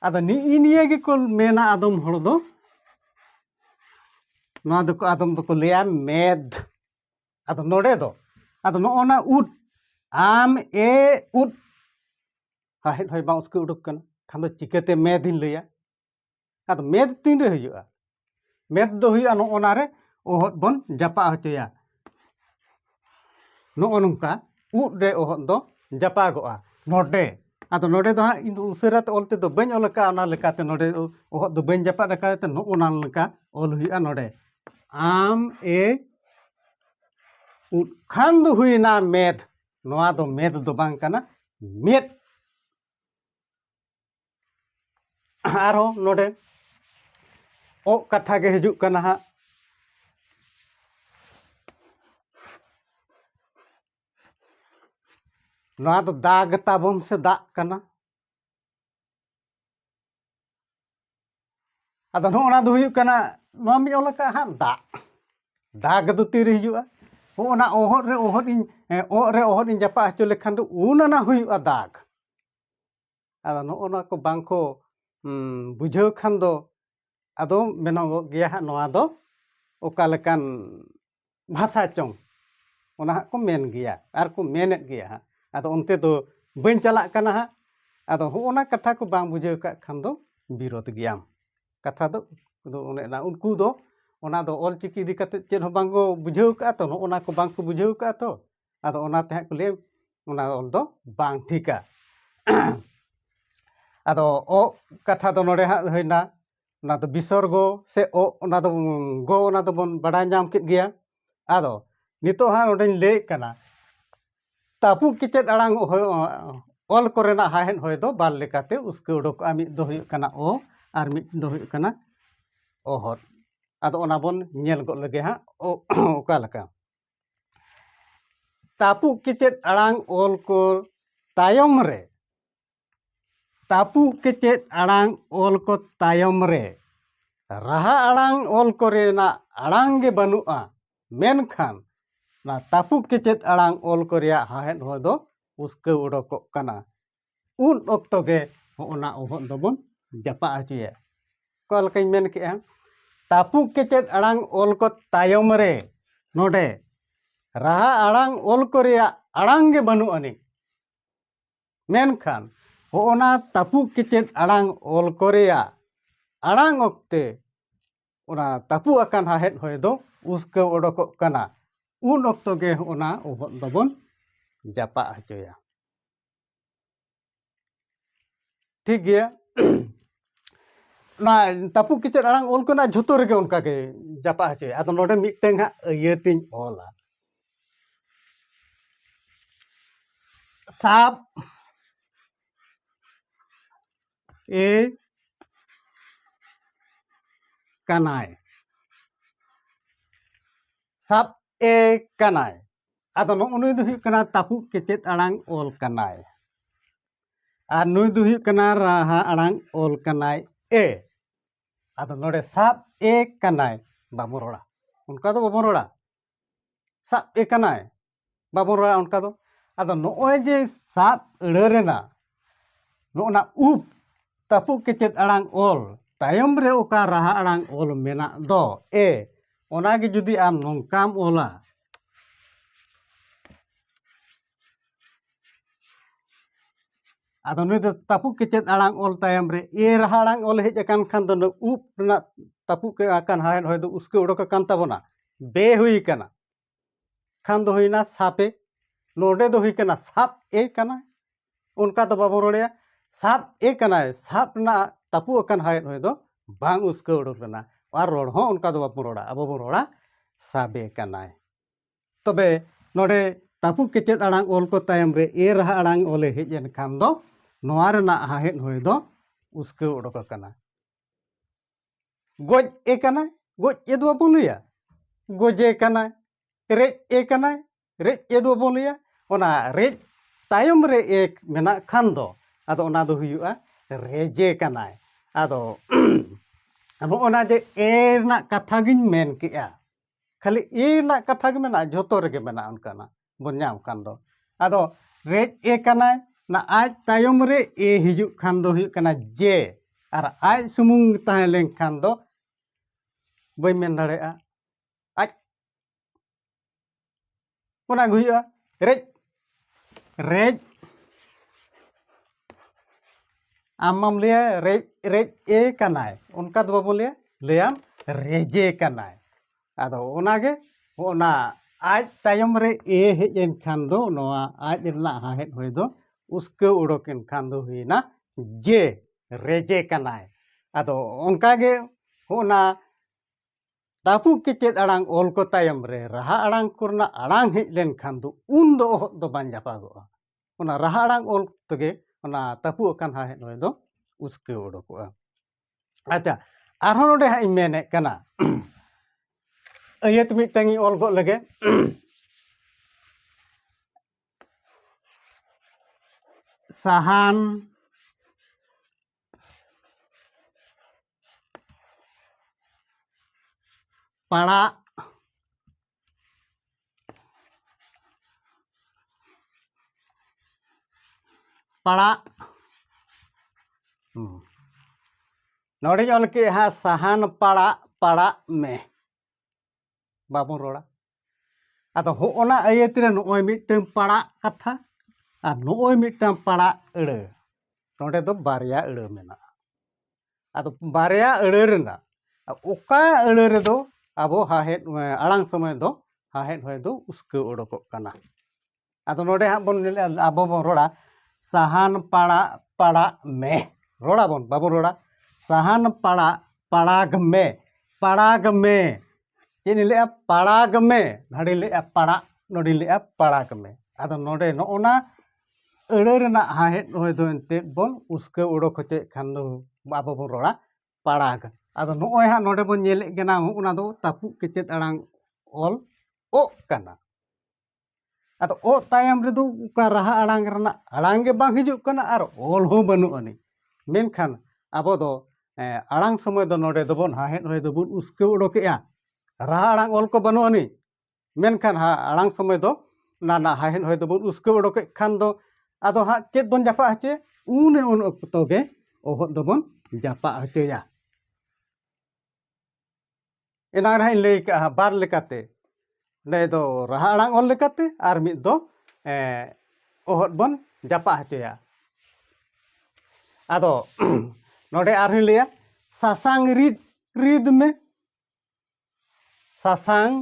ᱟᱫᱚ ᱱᱤᱜᱼᱤ ᱱᱤᱭᱟᱹ ᱜᱮᱠᱚ ᱢᱮᱱᱟ ᱟᱫᱚᱢ ᱦᱚᱲ ᱫᱚ ᱱᱚᱣᱟ ᱫᱚᱠᱚ ᱟᱫᱚᱢ ᱫᱚᱠᱚ ᱞᱟᱹᱭᱟ ᱢᱮᱫ ᱟᱫᱚ ᱱᱚᱰᱮ ᱫᱚ ᱟᱫᱚ ᱱᱚᱜᱼᱚ ᱱᱟ ᱩᱫ ᱟᱢ ᱮ ᱩᱫ ᱥᱟᱦᱮᱫ ᱦᱚᱭ ᱵᱟᱝ ᱩᱥᱠᱟᱹ ᱩᱰᱩᱠ ᱠᱟᱱᱟ ᱠᱷᱟᱱ ᱫᱚ ᱪᱤᱠᱟᱹᱛᱮ ᱢᱮᱫ ᱤᱧ ᱞᱟᱹᱭᱟ ᱟᱫᱚ ᱢᱮᱫ ᱛᱤᱱᱨᱮ ᱦᱩᱭᱩᱜᱼᱟ ᱢᱮᱫ ᱫᱚ ᱦᱩᱭᱩᱜᱼᱟ ᱱᱚᱜᱼᱚ ᱱᱟᱨᱮ ᱚᱦᱚᱫ ᱵᱚᱱ ᱡᱟᱯᱟᱜ ᱦᱚᱪᱚᱭᱟ ᱱᱚᱜᱼᱚ ᱱᱚᱝᱠᱟ ᱩᱫ ᱨᱮ ᱚᱦᱚᱫ ᱫᱚ ᱡᱟᱯᱟᱜᱚᱜᱼᱟ ᱱᱚᱰᱮ ᱟᱫᱚ ᱱᱚᱰᱮ ᱫᱚ ᱦᱟᱸᱜ ᱤᱧ ᱫᱚ ᱩᱥᱟᱹᱨᱟ ᱛᱮ ᱚᱞ ᱛᱮᱫᱚ ᱵᱟᱹᱧ ᱚᱞ ᱟᱠᱟᱫᱼᱟ ᱚᱱᱟ ᱞᱮᱠᱟᱛᱮ ᱱᱚᱰᱮ ᱚᱦᱚᱫ ᱫᱚ ᱵᱟᱹᱧ ᱡᱟᱯᱟᱜ ᱟᱠᱟᱫ ᱛᱮ ᱱᱚᱜᱼᱚ ᱱᱟ ᱞᱮᱠᱟ ᱚᱞ ᱦᱩᱭᱩᱜᱼᱟ ᱱᱚᱰᱮ ᱟᱢ ᱮ ᱩᱫ ᱠᱷᱟᱱ ᱫᱚ ᱦᱩᱭᱱᱟ ᱢᱮᱫ ᱱᱚᱣᱟ ᱫᱚ ᱢᱮᱫ ᱫᱚ ᱵᱟᱝ ᱠᱟᱱᱟ ᱢᱮᱫ ᱟᱨᱦᱚᱸ ᱱᱚᱰᱮ ᱚᱜ ᱠᱟᱛᱷᱟ ᱜᱮ ᱦᱤᱡᱩᱜ ᱠᱟᱱᱟ ᱦᱟᱸᱜ ᱱᱚᱣᱟ ᱫᱚ ᱫᱟᱜ ᱛᱟᱵᱚᱱ ᱥᱮ ᱫᱟᱜ ᱠᱟᱱᱟ ᱟᱫᱚ ᱱᱚᱜᱼᱚ ᱱᱟ ᱫᱚ ᱦᱩᱭᱩᱜ ᱠᱟᱱᱟ ᱱᱚᱣᱟ ᱢᱤᱫ ᱚᱞ ᱟᱠᱟᱫ ᱦᱟᱸᱜ ᱫᱟᱜ ᱫᱟᱜ ᱫᱚ ᱛᱤᱨᱮ ᱦᱤᱡᱩᱜᱼᱟ ᱦᱚᱸᱜᱼᱚ ᱱᱟ ᱚᱦᱚᱫ ᱨᱮ ᱚᱦᱚᱫ ᱤᱧ ᱚᱜ ᱨᱮ ᱚᱦᱚᱫ ᱤᱧ ᱡᱟᱯᱟᱜ ᱦᱚᱪᱚ ᱞᱮᱠᱷᱟᱱ ᱫᱚ ᱩᱱ ᱚᱱᱟ ᱦᱩᱭᱩᱜᱼᱟ ᱫᱟᱜ ᱟᱫᱚ ᱱᱚᱜᱼᱚ ᱱᱚᱣᱟ ᱠᱚ ᱵᱟᱝ ᱠᱚ ᱵᱩᱡᱷᱟᱹᱣ ᱠᱷᱟᱱ ᱫᱚ ᱟᱫᱚ ᱢᱮᱱᱚᱜᱚᱜ ᱜᱮᱭᱟ ᱦᱟᱸᱜ ᱱᱚᱣᱟ ᱫᱚ ᱚᱠᱟ ᱞᱮᱠᱟᱱ ᱵᱷᱟᱥᱟ ᱪᱚᱝ ᱚᱱᱟ ᱦᱟᱸᱜ ᱠᱚ ᱢᱮᱱ ᱜᱮᱭᱟ ᱟᱨ ᱠᱚ ᱢᱮᱱᱮᱫ ᱜᱮᱭᱟ ᱦᱟᱸᱜ ᱟᱫᱚ ᱚᱱᱛᱮ ᱫᱚ ᱵᱟᱹᱧ ᱪᱟᱞᱟᱜ ᱠᱟᱱᱟ ᱦᱟᱸᱜ ᱟᱫᱚ ᱦᱚᱸᱜᱼᱚ ᱱᱟ ᱠᱟᱛᱷᱟ ᱠᱚ ᱵᱟᱝ ᱵᱩᱡᱷᱟᱹᱣ ᱠᱟᱜ ᱠᱷᱟᱱ ᱫᱚ ᱵᱤᱨᱳᱫᱷ ᱜᱮᱭᱟᱢ ᱠᱟᱛᱷᱟ ᱫᱚ ᱫᱚ ᱚᱱᱮ ᱚᱱᱟ ᱩᱱᱠᱩ ᱫᱚ ᱚᱱᱟ ᱫᱚ ᱚᱞ ᱪᱤᱠᱤ ᱤᱫᱤ ᱠᱟᱛᱮᱫ ᱪᱮᱫ ᱦᱚᱸ ᱵᱟᱝ ᱠᱚ ᱵᱩᱡᱷᱟᱹᱣ ᱠᱟᱜᱼᱟ ᱛᱚ ᱱᱚᱜᱼᱚ ᱱᱟ ᱠᱚ ᱵᱟᱝ ᱠᱚ ᱵᱩᱡᱷᱟᱹᱣ ᱠᱟᱜᱼᱟ ᱛᱚ ᱟᱫᱚ ᱚᱱᱟ ᱛᱮ ᱦᱟᱸᱜ ᱠᱚ ᱞᱟᱹᱭᱟ ᱚᱱᱟ ᱚᱞ ᱫᱚ ᱵᱟᱝ ᱴᱷᱤᱠᱟ ᱟᱫᱚ ᱚ ᱠᱟᱛᱷᱟ ᱫᱚ ᱱᱚᱰᱮ ᱦᱟᱸᱜ ᱦᱩᱭᱱᱟ ᱚᱱᱟ ᱫᱚ ᱵᱤᱥᱚᱨᱜᱚ ᱥᱮ ᱚ ᱚᱱᱟ ᱫᱚ ᱜᱚ ᱚᱱᱟ ᱫᱚᱵᱚᱱ ᱵᱟᱲᱟᱭ ᱧᱟᱢ ᱠᱮᱫ ᱜᱮᱭᱟ ᱟᱫᱚ ᱱᱤᱛᱚᱜ ᱦᱟᱸᱜ ᱱᱚᱰᱮᱧ ᱞᱟᱹᱭᱮᱫ ᱠᱟᱱᱟ ᱛᱟᱹᱯᱩᱜ ᱠᱮᱪᱮᱫ ᱟᱲᱟᱝ ᱚᱞ ᱠᱚᱨᱮᱱᱟᱜ ᱦᱟᱦᱮᱫ ᱦᱚᱭ ᱫᱚ ᱵᱟᱨ ᱞᱮᱠᱟᱛᱮ ᱩᱥᱠᱟᱹ ᱩᱰᱩᱠᱚᱜᱼᱟ ᱢᱤᱫ ᱫᱚ ᱦᱩᱭᱩᱜ ᱠᱟᱱᱟ ᱚ ᱟᱨ ᱢᱤᱫ ᱫᱚ ᱦᱩᱭᱩᱜ ᱠᱟᱱᱟ ᱚᱦᱚᱫ ᱟᱫᱚ ᱚᱱᱟ ᱵᱚᱱ ᱧᱮᱞ ᱜᱚᱫ ᱞᱮᱜᱮ ᱦᱟᱸᱜ ᱚᱠᱟ ᱞᱮᱠᱟ ᱛᱟᱹᱯᱩᱜ ᱠᱮᱪᱮᱫ ᱟᱲᱟᱝ ᱚᱞ ᱠᱚ ᱛᱟᱭᱚᱢ ᱨᱮ ᱛᱟᱹᱯᱩᱜ ᱠᱮᱪᱮᱫ ᱟᱲᱟᱝ ᱚᱞ ᱠᱚ ᱛᱟᱭᱚᱢ ᱨᱮ ᱨᱟᱦᱟ ᱟᱲᱟᱝ ᱚᱞ ᱠᱚᱨᱮᱱᱟᱜ ᱟᱲᱟᱝ ᱜᱮ ᱵᱟᱹᱱᱩᱜᱼᱟ ᱢᱮᱱᱠᱷᱟᱱ ᱚᱱᱟ ᱛᱟᱹᱯᱩᱜ ᱠᱮᱪᱮᱫ ᱟᱲᱟᱝ ᱚᱞ ᱠᱚ ᱨᱮᱭᱟᱜ ᱦᱟᱦᱮᱫ ᱦᱚᱸ ᱫᱚ ᱩᱥᱠᱟᱹᱣ ᱚᱰᱚᱠᱚᱜ ᱠᱟᱱᱟ ᱩᱱ ᱚᱠᱛᱚ ᱜᱮ ᱦᱚᱸᱜᱼᱚ ᱱᱟ ᱚᱦᱚᱫ ᱫᱚᱵᱚᱱ ᱡᱟᱯᱟᱜ ᱦᱚᱪᱚᱭᱟ ᱚᱠᱟ ᱞᱮᱠᱟᱧ ᱢᱮᱱ ᱠᱮᱜᱼᱟ ᱛᱟᱹᱯᱩᱜ ᱠᱮᱪᱮᱫ ᱟᱲᱟᱝ ᱚᱞ ᱠᱚ ᱛᱟᱭᱚᱢ ᱨᱮ ᱱᱚᱰᱮ ᱨᱟᱦᱟ ᱟᱲᱟᱝ ᱚᱞ ᱠᱚ ᱨᱮᱭᱟᱜ ᱟᱲᱟᱝ ᱜᱮ ᱵᱟᱹᱱᱩᱜ ᱟᱹᱱᱤᱡ ᱢᱮᱱᱠᱷᱟᱱ ᱦᱚᱸᱜᱼᱚ ᱱᱟ ᱛᱟᱹᱯᱩᱜ ᱠᱮᱪᱮᱫ ᱟᱲᱟᱝ ᱚᱞ ᱠᱚ ᱨᱮᱭᱟᱜ ᱟᱲᱟᱝ ᱚᱠᱛᱮ ᱚᱱᱟ ᱛᱟᱹᱯᱩᱜ ᱟᱠᱟᱱ ᱦᱟᱦᱮᱫ ᱦᱚᱭ ᱫᱚ ᱩᱥᱠᱟᱹᱣ ᱚᱰᱚᱠᱚᱜ ᱠᱟᱱᱟ ᱩᱱ ᱚᱠᱛᱚ ᱜᱮ ᱚᱱᱟ ᱚᱦᱚᱫ ᱫᱚᱵᱚᱱ ᱡᱟᱯᱟᱜ ᱦᱚᱪᱚᱭᱟ ᱴᱷᱤᱠ ᱜᱮᱭᱟ ᱚᱱᱟ ᱛᱟᱹᱯᱩᱜ ᱠᱮᱪᱮᱫ ᱟᱲᱟᱝ ᱚᱞ ᱠᱚᱱᱟᱜ ᱡᱷᱚᱛᱚ ᱨᱮᱜᱮ ᱚᱱᱠᱟ ᱜᱮ ᱡᱟᱯᱟᱜ ᱦᱚᱪᱚᱭᱟ ᱟᱫᱚ ᱱᱚᱰᱮ ᱢᱤᱫᱴᱟᱝ ᱦᱟᱸᱜ ᱤᱭᱟᱹᱛᱤᱧ ᱚᱞᱟ ᱥᱟᱵ ᱮ ᱠᱟᱱᱟᱭ ᱥᱟᱵ ᱮ ᱠᱟᱱᱟᱭ ᱟᱫᱚ ᱱᱚᱜᱼᱚ ᱱᱩᱭ ᱫᱚ ᱦᱩᱭᱩᱜ ᱠᱟᱱᱟ ᱛᱟᱹᱯᱩᱜ ᱠᱮᱪᱮᱫ ᱟᱲᱟᱝ ᱚᱞ ᱠᱟᱱᱟᱭ ᱟᱨ ᱱᱩᱭ ᱫᱚ ᱦᱩᱭᱩᱜ ᱠᱟᱱᱟ ᱨᱟᱦᱟ ᱟᱲᱟᱝ ᱚᱞ ᱠᱟᱱᱟᱭ ᱮ ᱟᱫᱚ ᱱᱚᱰᱮ ᱥᱟᱵ ᱮ ᱠᱟᱱᱟᱭ ᱵᱟᱵᱚᱱ ᱨᱚᱲᱟ ᱚᱱᱠᱟ ᱫᱚ ᱵᱟᱵᱚᱱ ᱨᱚᱲᱟ ᱥᱟᱵ ᱮ ᱠᱟᱱᱟᱭ ᱵᱟᱵᱚᱱ ᱨᱚᱲᱟ ᱚᱱᱠᱟ ᱫᱚ ᱟᱫᱚ ᱱᱚᱜᱼᱚᱭ ᱡᱮ ᱥᱟᱵ ᱟᱹᱲᱟᱹ ᱨᱮᱱᱟᱜ ᱱᱚᱜᱼᱚᱱᱟ ᱩᱯ ᱛᱟᱹᱯᱩᱜ ᱠᱮᱪᱮᱫ ᱟᱲᱟᱝ ᱚᱞ ᱛᱟᱭᱚᱢ ᱨᱮ ᱚᱠᱟ ᱨᱟᱦᱟ ᱟᱲᱟᱝ ᱚᱞ ᱢᱮᱱᱟᱜ ᱫᱚ ᱮ ᱚᱱᱟᱜᱮ ᱡᱩᱫᱤ ᱟᱢ ᱱᱚᱝᱠᱟᱢ ᱚᱞᱟ ᱟᱫᱚ ᱱᱩᱭ ᱫᱚ ᱛᱟᱹᱯᱩᱜ ᱠᱮᱪᱮᱫ ᱟᱲᱟᱝ ᱚᱞ ᱛᱟᱭᱚᱢ ᱨᱮ ᱮ ᱨᱟᱦᱟ ᱟᱲᱟᱝ ᱚᱞ ᱦᱮᱡ ᱟᱠᱟᱱ ᱠᱷᱟᱱ ᱫᱚ ᱱᱩᱭ ᱩᱵ ᱨᱮᱱᱟᱜ ᱛᱟᱹᱯᱩᱜ ᱠᱮᱫ ᱟᱠᱟᱱ ᱦᱟᱣᱮᱫ ᱦᱚᱭ ᱫᱚ ᱩᱥᱠᱮ ᱚᱰᱚᱠ ᱟᱠᱟᱱ ᱛᱟᱵᱚᱱᱟ ᱵᱮ ᱦᱩᱭ ᱠᱟᱱᱟ ᱠᱷᱟᱱ ᱫᱚ ᱦᱩᱭᱱᱟ ᱥᱟᱯᱮ ᱱᱚᱰᱮ ᱫᱚ ᱦᱩᱭ ᱠᱟᱱᱟ ᱥᱟᱵ ᱮ ᱠᱟᱱᱟ ᱚᱱᱠᱟ ᱫᱚ ᱵᱟᱵᱚᱱ ᱨᱚᱲᱮᱜᱼᱟ ᱥᱟᱵ ᱮ ᱠᱟᱱᱟᱭ ᱥᱟᱵ ᱨᱮᱱᱟᱜ ᱛᱟᱹᱯᱩᱜ ᱟᱠᱟᱱ ᱦᱚᱭᱮᱫ ᱦᱚᱭ ᱫᱚ ᱵᱟᱝ ᱩᱥᱠᱟᱹᱣ ᱩᱰᱩᱠ ᱞᱮᱱᱟ ᱟᱨ ᱨᱚᱲ ᱦᱚᱸ ᱚᱱᱠᱟ ᱫᱚ ᱵᱟᱵᱚᱱ ᱨᱚᱲᱟ ᱟᱵᱚ ᱵᱚᱱ ᱨᱚᱲᱟ ᱥᱟᱵᱮ ᱠᱟᱱᱟᱭ ᱛᱚᱵᱮ ᱱᱚᱰᱮ ᱛᱟᱹᱯᱩᱜ ᱠᱮᱪᱮᱫ ᱟᱲᱟᱝ ᱚᱞ ᱠᱚ ᱛᱟᱭᱚᱢ ᱨᱮ ᱮ ᱨᱟᱦᱟ ᱟᱲᱟᱝ ᱚᱞᱮ ᱦᱮᱡ ᱮᱱ ᱠᱷᱟᱱ ᱫᱚ ᱱᱚᱣᱟ ᱨᱮᱱᱟᱜ ᱦᱟᱦᱮᱫ ᱦᱚᱭ ᱫᱚ ᱩᱥᱠᱟᱹᱣ ᱩᱰᱩᱠ ᱟᱠᱟᱱᱟ ᱜᱚᱡ ᱮ ᱠᱟᱱᱟᱭ ᱜᱚᱡ ᱮ ᱫᱚ ᱵᱟᱵᱚᱱ ᱞᱟᱹᱭᱟ ᱜᱚᱡᱮ ᱠᱟᱱᱟᱭ ᱨᱮᱡ ᱮ ᱠᱟᱱᱟᱭ ᱨᱮᱡ ᱮ ᱫᱚ ᱵᱚᱱ ᱞᱟᱹᱭᱟ ᱚᱱᱟ ᱨᱮᱡ ᱛᱟᱭᱚᱢ ᱨᱮ ᱮ ᱢᱮᱱᱟᱜ ᱠᱷᱟᱱ ᱫᱚ ᱟᱫᱚ ᱚᱱᱟ ᱫᱚ ᱦᱩᱭᱩᱜᱼᱟ ᱨᱮᱡᱮ ᱠᱟᱱᱟᱭ ᱟᱫᱚ ᱱᱚᱜᱼᱚᱱᱟ ᱡᱮ ᱮ ᱨᱮᱱᱟᱜ ᱠᱟᱛᱷᱟ ᱜᱤᱧ ᱢᱮᱱ ᱠᱮᱜᱼᱟ ᱠᱷᱟᱹᱞᱤ ᱮ ᱨᱮᱱᱟᱜ ᱠᱟᱛᱷᱟ ᱜᱮ ᱢᱮᱱᱟᱜᱼᱟ ᱡᱷᱚᱛᱚ ᱨᱮᱜᱮ ᱢᱮᱱᱟᱜᱼᱟ ᱚᱱᱠᱟᱱᱟᱜ ᱵᱚᱱ ᱧᱟᱢ ᱠᱷᱟᱱ ᱫᱚ ᱟᱫᱚ ᱨᱮᱡ ᱮ ᱠᱟᱱᱟᱭ ᱚᱱᱟ ᱟᱡ ᱛᱟᱭᱚᱢ ᱨᱮ ᱮ ᱦᱤᱡᱩᱜ ᱠᱷᱟᱱ ᱫᱚ ᱦᱩᱭᱩᱜ ᱠᱟᱱᱟ ᱡᱮ ᱟᱨ ᱟᱡ ᱥᱩᱢᱩᱝ ᱛᱟᱦᱮᱸ ᱞᱮᱱᱠᱷᱟᱱ ᱫᱚ ᱵᱟᱹᱧ ᱢᱮᱱ ᱫᱟᱲᱮᱭᱟᱜᱼᱟ ᱚᱱᱟ ᱜᱮ ᱦᱩᱭᱩᱜᱼᱟ ᱨᱮᱡ ᱨᱮᱡ ᱟᱢ ᱢᱟᱢ ᱞᱟᱹᱭᱟ ᱨᱮᱡ ᱨᱮᱡ ᱮ ᱠᱟᱱᱟᱭ ᱚᱱᱠᱟ ᱫᱚ ᱵᱟᱵᱚ ᱞᱟᱹᱭᱟ ᱞᱟᱹᱭᱟᱢ ᱨᱮᱡᱮ ᱠᱟᱱᱟᱭ ᱟᱫᱚ ᱚᱱᱟᱜᱮ ᱚᱱᱟ ᱟᱡ ᱛᱟᱭᱚᱢ ᱨᱮ ᱮ ᱦᱮᱡ ᱮᱱ ᱠᱷᱟᱱ ᱫᱚ ᱱᱚᱣᱟ ᱟᱡ ᱨᱮᱱᱟᱜ ᱦᱟᱦᱮᱫ ᱦᱚᱭ ᱫᱚ ᱩᱥᱠᱟᱹᱣ ᱩᱰᱚᱠ ᱮᱱ ᱠᱷᱟᱱ ᱫᱚ ᱦᱩᱭᱱᱟ ᱡᱮ ᱨᱮᱡᱮ ᱠᱟᱱᱟᱭ ᱟᱫᱚ ᱚᱱᱠᱟᱜᱮ ᱦᱚᱸᱜᱼᱱᱟ ᱛᱟᱹᱯᱩᱜ ᱠᱮᱪᱮᱫ ᱟᱲᱟᱝ ᱚᱞ ᱠᱚ ᱛᱟᱭᱚᱢ ᱨᱮ ᱨᱟᱦᱟ ᱟᱲᱟᱝ ᱠᱚᱨᱮᱱᱟᱜ ᱟᱲᱟᱝ ᱦᱮᱡ ᱞᱮᱱᱠᱷᱟᱱ ᱫᱚ ᱩᱱ ᱫᱚ ᱚᱦᱚᱫ ᱫᱚ ᱵᱟᱝ ᱡᱟᱯᱟᱜᱚᱜᱼᱟ ᱚᱱᱟ ᱨᱟᱦᱟ ᱟᱲᱟᱝ ᱚᱞ ᱛᱮᱜᱮ ᱚᱱᱟ ᱛᱟᱹᱯᱩᱜ ᱟᱠᱟᱱ ᱦᱟᱦᱮᱫ ᱦᱚᱭ ᱫᱚ ᱩᱥᱠᱟᱹᱣ ᱚᱰᱚᱠᱚᱜᱼᱟ ᱟᱪᱪᱷᱟ ᱟᱨᱦᱚᱸ ᱱᱚᱰᱮ ᱦᱟᱸᱜ ᱤᱧ ᱢᱮᱱᱮᱫ ᱠᱟᱱᱟ ᱟᱹᱭᱟᱹᱛ ᱢᱤᱫᱴᱟᱝ ᱤᱧ ᱚᱞ ᱜᱚᱫ ᱞᱮᱜᱮ ᱥᱟᱦᱟᱱ ᱯᱟᱲᱟᱜ ᱯᱟᱲᱟᱜ ᱱᱚᱰᱮᱧ ᱚᱞ ᱠᱮᱜᱼᱟ ᱥᱟᱦᱟᱱ ᱯᱟᱲᱟᱜ ᱯᱟᱲᱟᱜ ᱢᱮ ᱵᱟᱵᱚᱱ ᱨᱚᱲᱟ ᱟᱫᱚ ᱦᱚᱜᱼᱚᱱᱟ ᱟᱹᱭᱟᱹᱛ ᱨᱮ ᱱᱚᱜᱼᱚᱭ ᱢᱤᱫᱴᱟᱹᱝ ᱯᱟᱲᱟᱜ ᱠᱟᱛᱷᱟ ᱟᱨ ᱱᱚᱜᱼᱚᱭ ᱢᱤᱫᱴᱟᱹᱝ ᱯᱟᱲᱟᱜ ᱟᱹᱲᱟᱹ ᱱᱚᱰᱮ ᱫᱚ ᱵᱟᱨᱭᱟ ᱟᱹᱲᱟᱹ ᱢᱮᱱᱟᱜᱼᱟ ᱟᱫᱚ ᱵᱟᱨᱭᱟ ᱟᱹᱲᱟᱹ ᱨᱮᱱᱟᱜ ᱚᱠᱟ ᱟᱹᱲᱟᱹ ᱨᱮᱫᱚ ᱟᱵᱚ ᱦᱟᱦᱮᱫ ᱟᱲᱟᱝ ᱥᱚᱢᱚᱭ ᱫᱚ ᱦᱟᱦᱮᱫ ᱦᱚᱭ ᱫᱚ ᱩᱥᱠᱟᱹᱣ ᱚᱰᱚᱠᱚᱜ ᱠᱟᱱᱟ ᱟᱫᱚ ᱱᱚᱰᱮ ᱦᱟᱸᱜ ᱵᱚᱱ ᱟᱵᱚ ᱵᱚᱱ ᱨᱚᱲᱟ ᱥᱟᱦᱟᱱ ᱯᱟᱲᱟᱜ ᱯᱟᱲᱟᱜ ᱢᱮ ᱨᱚᱲᱟᱵᱚᱱ ᱵᱟᱵᱚᱱ ᱨᱚᱲᱟ ᱥᱟᱦᱟᱱ ᱯᱟᱲᱟᱜ ᱯᱟᱲᱟᱜᱽ ᱢᱮ ᱯᱟᱲᱟᱜᱽ ᱢᱮ ᱪᱮᱫ ᱤᱧ ᱞᱟᱹᱭᱮᱫᱼᱟ ᱯᱟᱲᱟᱜᱽ ᱢᱮ ᱱᱚᱰᱮᱧ ᱞᱟᱹᱭᱮᱫᱼᱟ ᱯᱟᱲᱟᱜ ᱱᱚᱰᱮᱧ ᱞᱟᱹᱭᱮᱫᱼᱟ ᱯᱟᱲᱟᱜᱽ ᱢᱮ ᱟᱫᱚ ᱱᱚᱰᱮ ᱱᱚᱜᱼᱚ ᱱᱟ ᱟᱹᱲᱟᱹ ᱨᱮᱱᱟᱜ ᱦᱟᱦᱮᱫ ᱱᱚᱜᱼᱚᱭ ᱫᱚ ᱮᱱᱛᱮᱫ ᱵᱚᱱ ᱩᱥᱠᱟᱹᱣ ᱚᱰᱚᱠ ᱦᱚᱪᱚᱭᱮᱫ ᱠᱷᱟᱱ ᱫᱚ ᱟᱵᱚ ᱵᱚᱱ ᱨᱚᱲᱟ ᱯᱟᱲᱟᱜᱽ ᱟᱫᱚ ᱱᱚᱜᱼᱚᱭ ᱦᱟᱸᱜ ᱱᱚᱰᱮ ᱵᱚᱱ ᱧᱮᱞᱮᱫ ᱠᱟᱱᱟ ᱚᱱᱟ ᱫᱚ ᱛᱟᱹᱯᱩᱜ ᱠᱮᱪᱮᱫ ᱟᱲᱟᱝ ᱚᱞ ᱚᱜ ᱠᱟᱱᱟ ᱟᱫᱚ ᱚᱜ ᱛᱟᱭᱚᱢ ᱨᱮᱫᱚ ᱚᱠᱟ ᱨᱟᱦᱟ ᱟᱲᱟᱝ ᱨᱮᱱᱟᱜ ᱟᱲᱟᱝ ᱜᱮ ᱵᱟᱝ ᱦᱤᱡᱩᱜ ᱠᱟᱱᱟ ᱟᱨ ᱚᱞ ᱦᱚᱸ ᱵᱟᱹᱱᱩᱜ ᱟᱹᱱᱤᱡ ᱢᱮᱱᱠᱷᱟᱱ ᱟᱵᱚ ᱫᱚ ᱟᱲᱟᱝ ᱥᱚᱢᱚᱭ ᱫᱚ ᱱᱚᱰᱮ ᱫᱚᱵᱚᱱ ᱦᱟᱦᱮᱫ ᱦᱚᱭ ᱫᱚᱵᱚᱱ ᱩᱥᱠᱟᱹᱣ ᱚᱰᱚᱠᱮᱜᱼᱟ ᱨᱟᱦᱟ ᱟᱲᱟᱝ ᱚᱞ ᱠᱚ ᱵᱟᱹᱱᱩᱜ ᱟᱹᱱᱤᱡ ᱢᱮᱱᱠᱷᱟᱱ ᱟᱲᱟᱝ ᱥᱚᱢᱚᱭ ᱫᱚ ᱚᱱᱟ ᱨᱮᱱᱟᱜ ᱦᱟᱦᱮᱫ ᱦᱚᱭ ᱫᱚᱵᱚᱱ ᱩᱥᱠᱟᱹᱣ ᱚᱰᱚᱠᱮᱫ ᱠᱷᱟᱱ ᱫᱚ ᱟᱫᱚ ᱦᱟᱸᱜ ᱪᱮᱫ ᱵᱚᱱ ᱡᱟᱯᱟᱜ ᱦᱚᱪᱚᱭᱟ ᱩᱱ ᱩᱱ ᱚᱠᱛᱚ ᱜᱮ ᱚᱦᱚᱫ ᱫᱚᱵᱚᱱ ᱡᱟᱯᱟᱜ ᱦᱚᱪᱚᱭᱟ ᱮᱱᱟᱝ ᱨᱮᱦᱟᱸᱜ ᱤᱧ ᱞᱟᱹᱭ ᱠᱟᱜᱼᱟ ᱵᱟᱨ ᱞᱮᱠᱟᱛᱮ ᱚᱸᱰᱮ ᱫᱚ ᱨᱟᱦᱟ ᱟᱲᱟᱝ ᱚᱞ ᱞᱮᱠᱟᱛᱮ ᱟᱨ ᱢᱤᱫ ᱫᱚ ᱚᱦᱚᱫ ᱵᱚᱱ ᱡᱟᱯᱟᱜ ᱦᱚᱪᱚᱭᱟ ᱟᱫᱚ ᱱᱚᱰᱮ ᱟᱨᱦᱚᱸᱧ ᱞᱟᱹᱭᱟ ᱥᱟᱥᱟᱝ ᱨᱤᱫ ᱨᱤᱫ ᱢᱮ ᱥᱟᱥᱟᱝ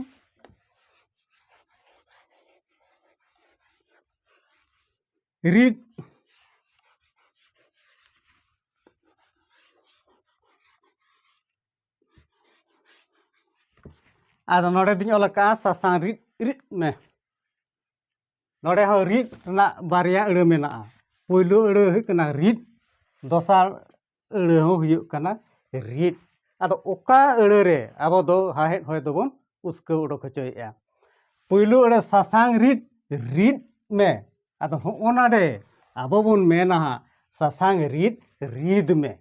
ᱨᱤᱫ ᱟᱫᱚ ᱱᱚᱰᱮ ᱫᱩᱧ ᱚᱞ ᱟᱠᱟᱫᱼᱟ ᱥᱟᱥᱟᱝ ᱨᱤᱫ ᱨᱤᱫ ᱢᱮ ᱱᱚᱰᱮ ᱦᱚᱸ ᱨᱤᱫ ᱨᱮᱱᱟᱜ ᱵᱟᱨᱭᱟ ᱟᱹᱲᱟᱹ ᱢᱮᱱᱟᱜᱼᱟ ᱯᱳᱭᱞᱳ ᱟᱹᱲᱟᱹ ᱦᱩᱭᱩᱜ ᱠᱟᱱᱟ ᱨᱤᱫ ᱫᱚᱥᱟᱨ ᱟᱹᱲᱟᱹ ᱦᱚᱸ ᱦᱩᱭᱩᱜ ᱠᱟᱱᱟ ᱨᱤᱫ ᱟᱫᱚ ᱚᱠᱟ ᱟᱹᱲᱟᱹ ᱨᱮ ᱟᱵᱚ ᱫᱚ ᱦᱟᱦᱮᱫ ᱦᱚᱭ ᱫᱚᱵᱚᱱ ᱩᱥᱠᱟᱹᱣ ᱚᱰᱚᱠ ᱦᱚᱪᱚᱭᱮᱜᱼᱟ ᱯᱩᱭᱞᱩ ᱟᱹᱲᱟᱹ ᱥᱟᱥᱟᱝ ᱨᱤᱫ ᱨᱤᱫ ᱢᱮ ᱟᱫᱚ ᱦᱚᱸᱜᱼᱚ ᱱᱟᱰᱮ ᱟᱵᱚ ᱵᱚᱱ ᱢᱮᱱᱟ ᱦᱟᱸᱜ ᱥᱟᱥᱟᱝ ᱨᱤᱫ ᱨᱤᱫ ᱢᱮ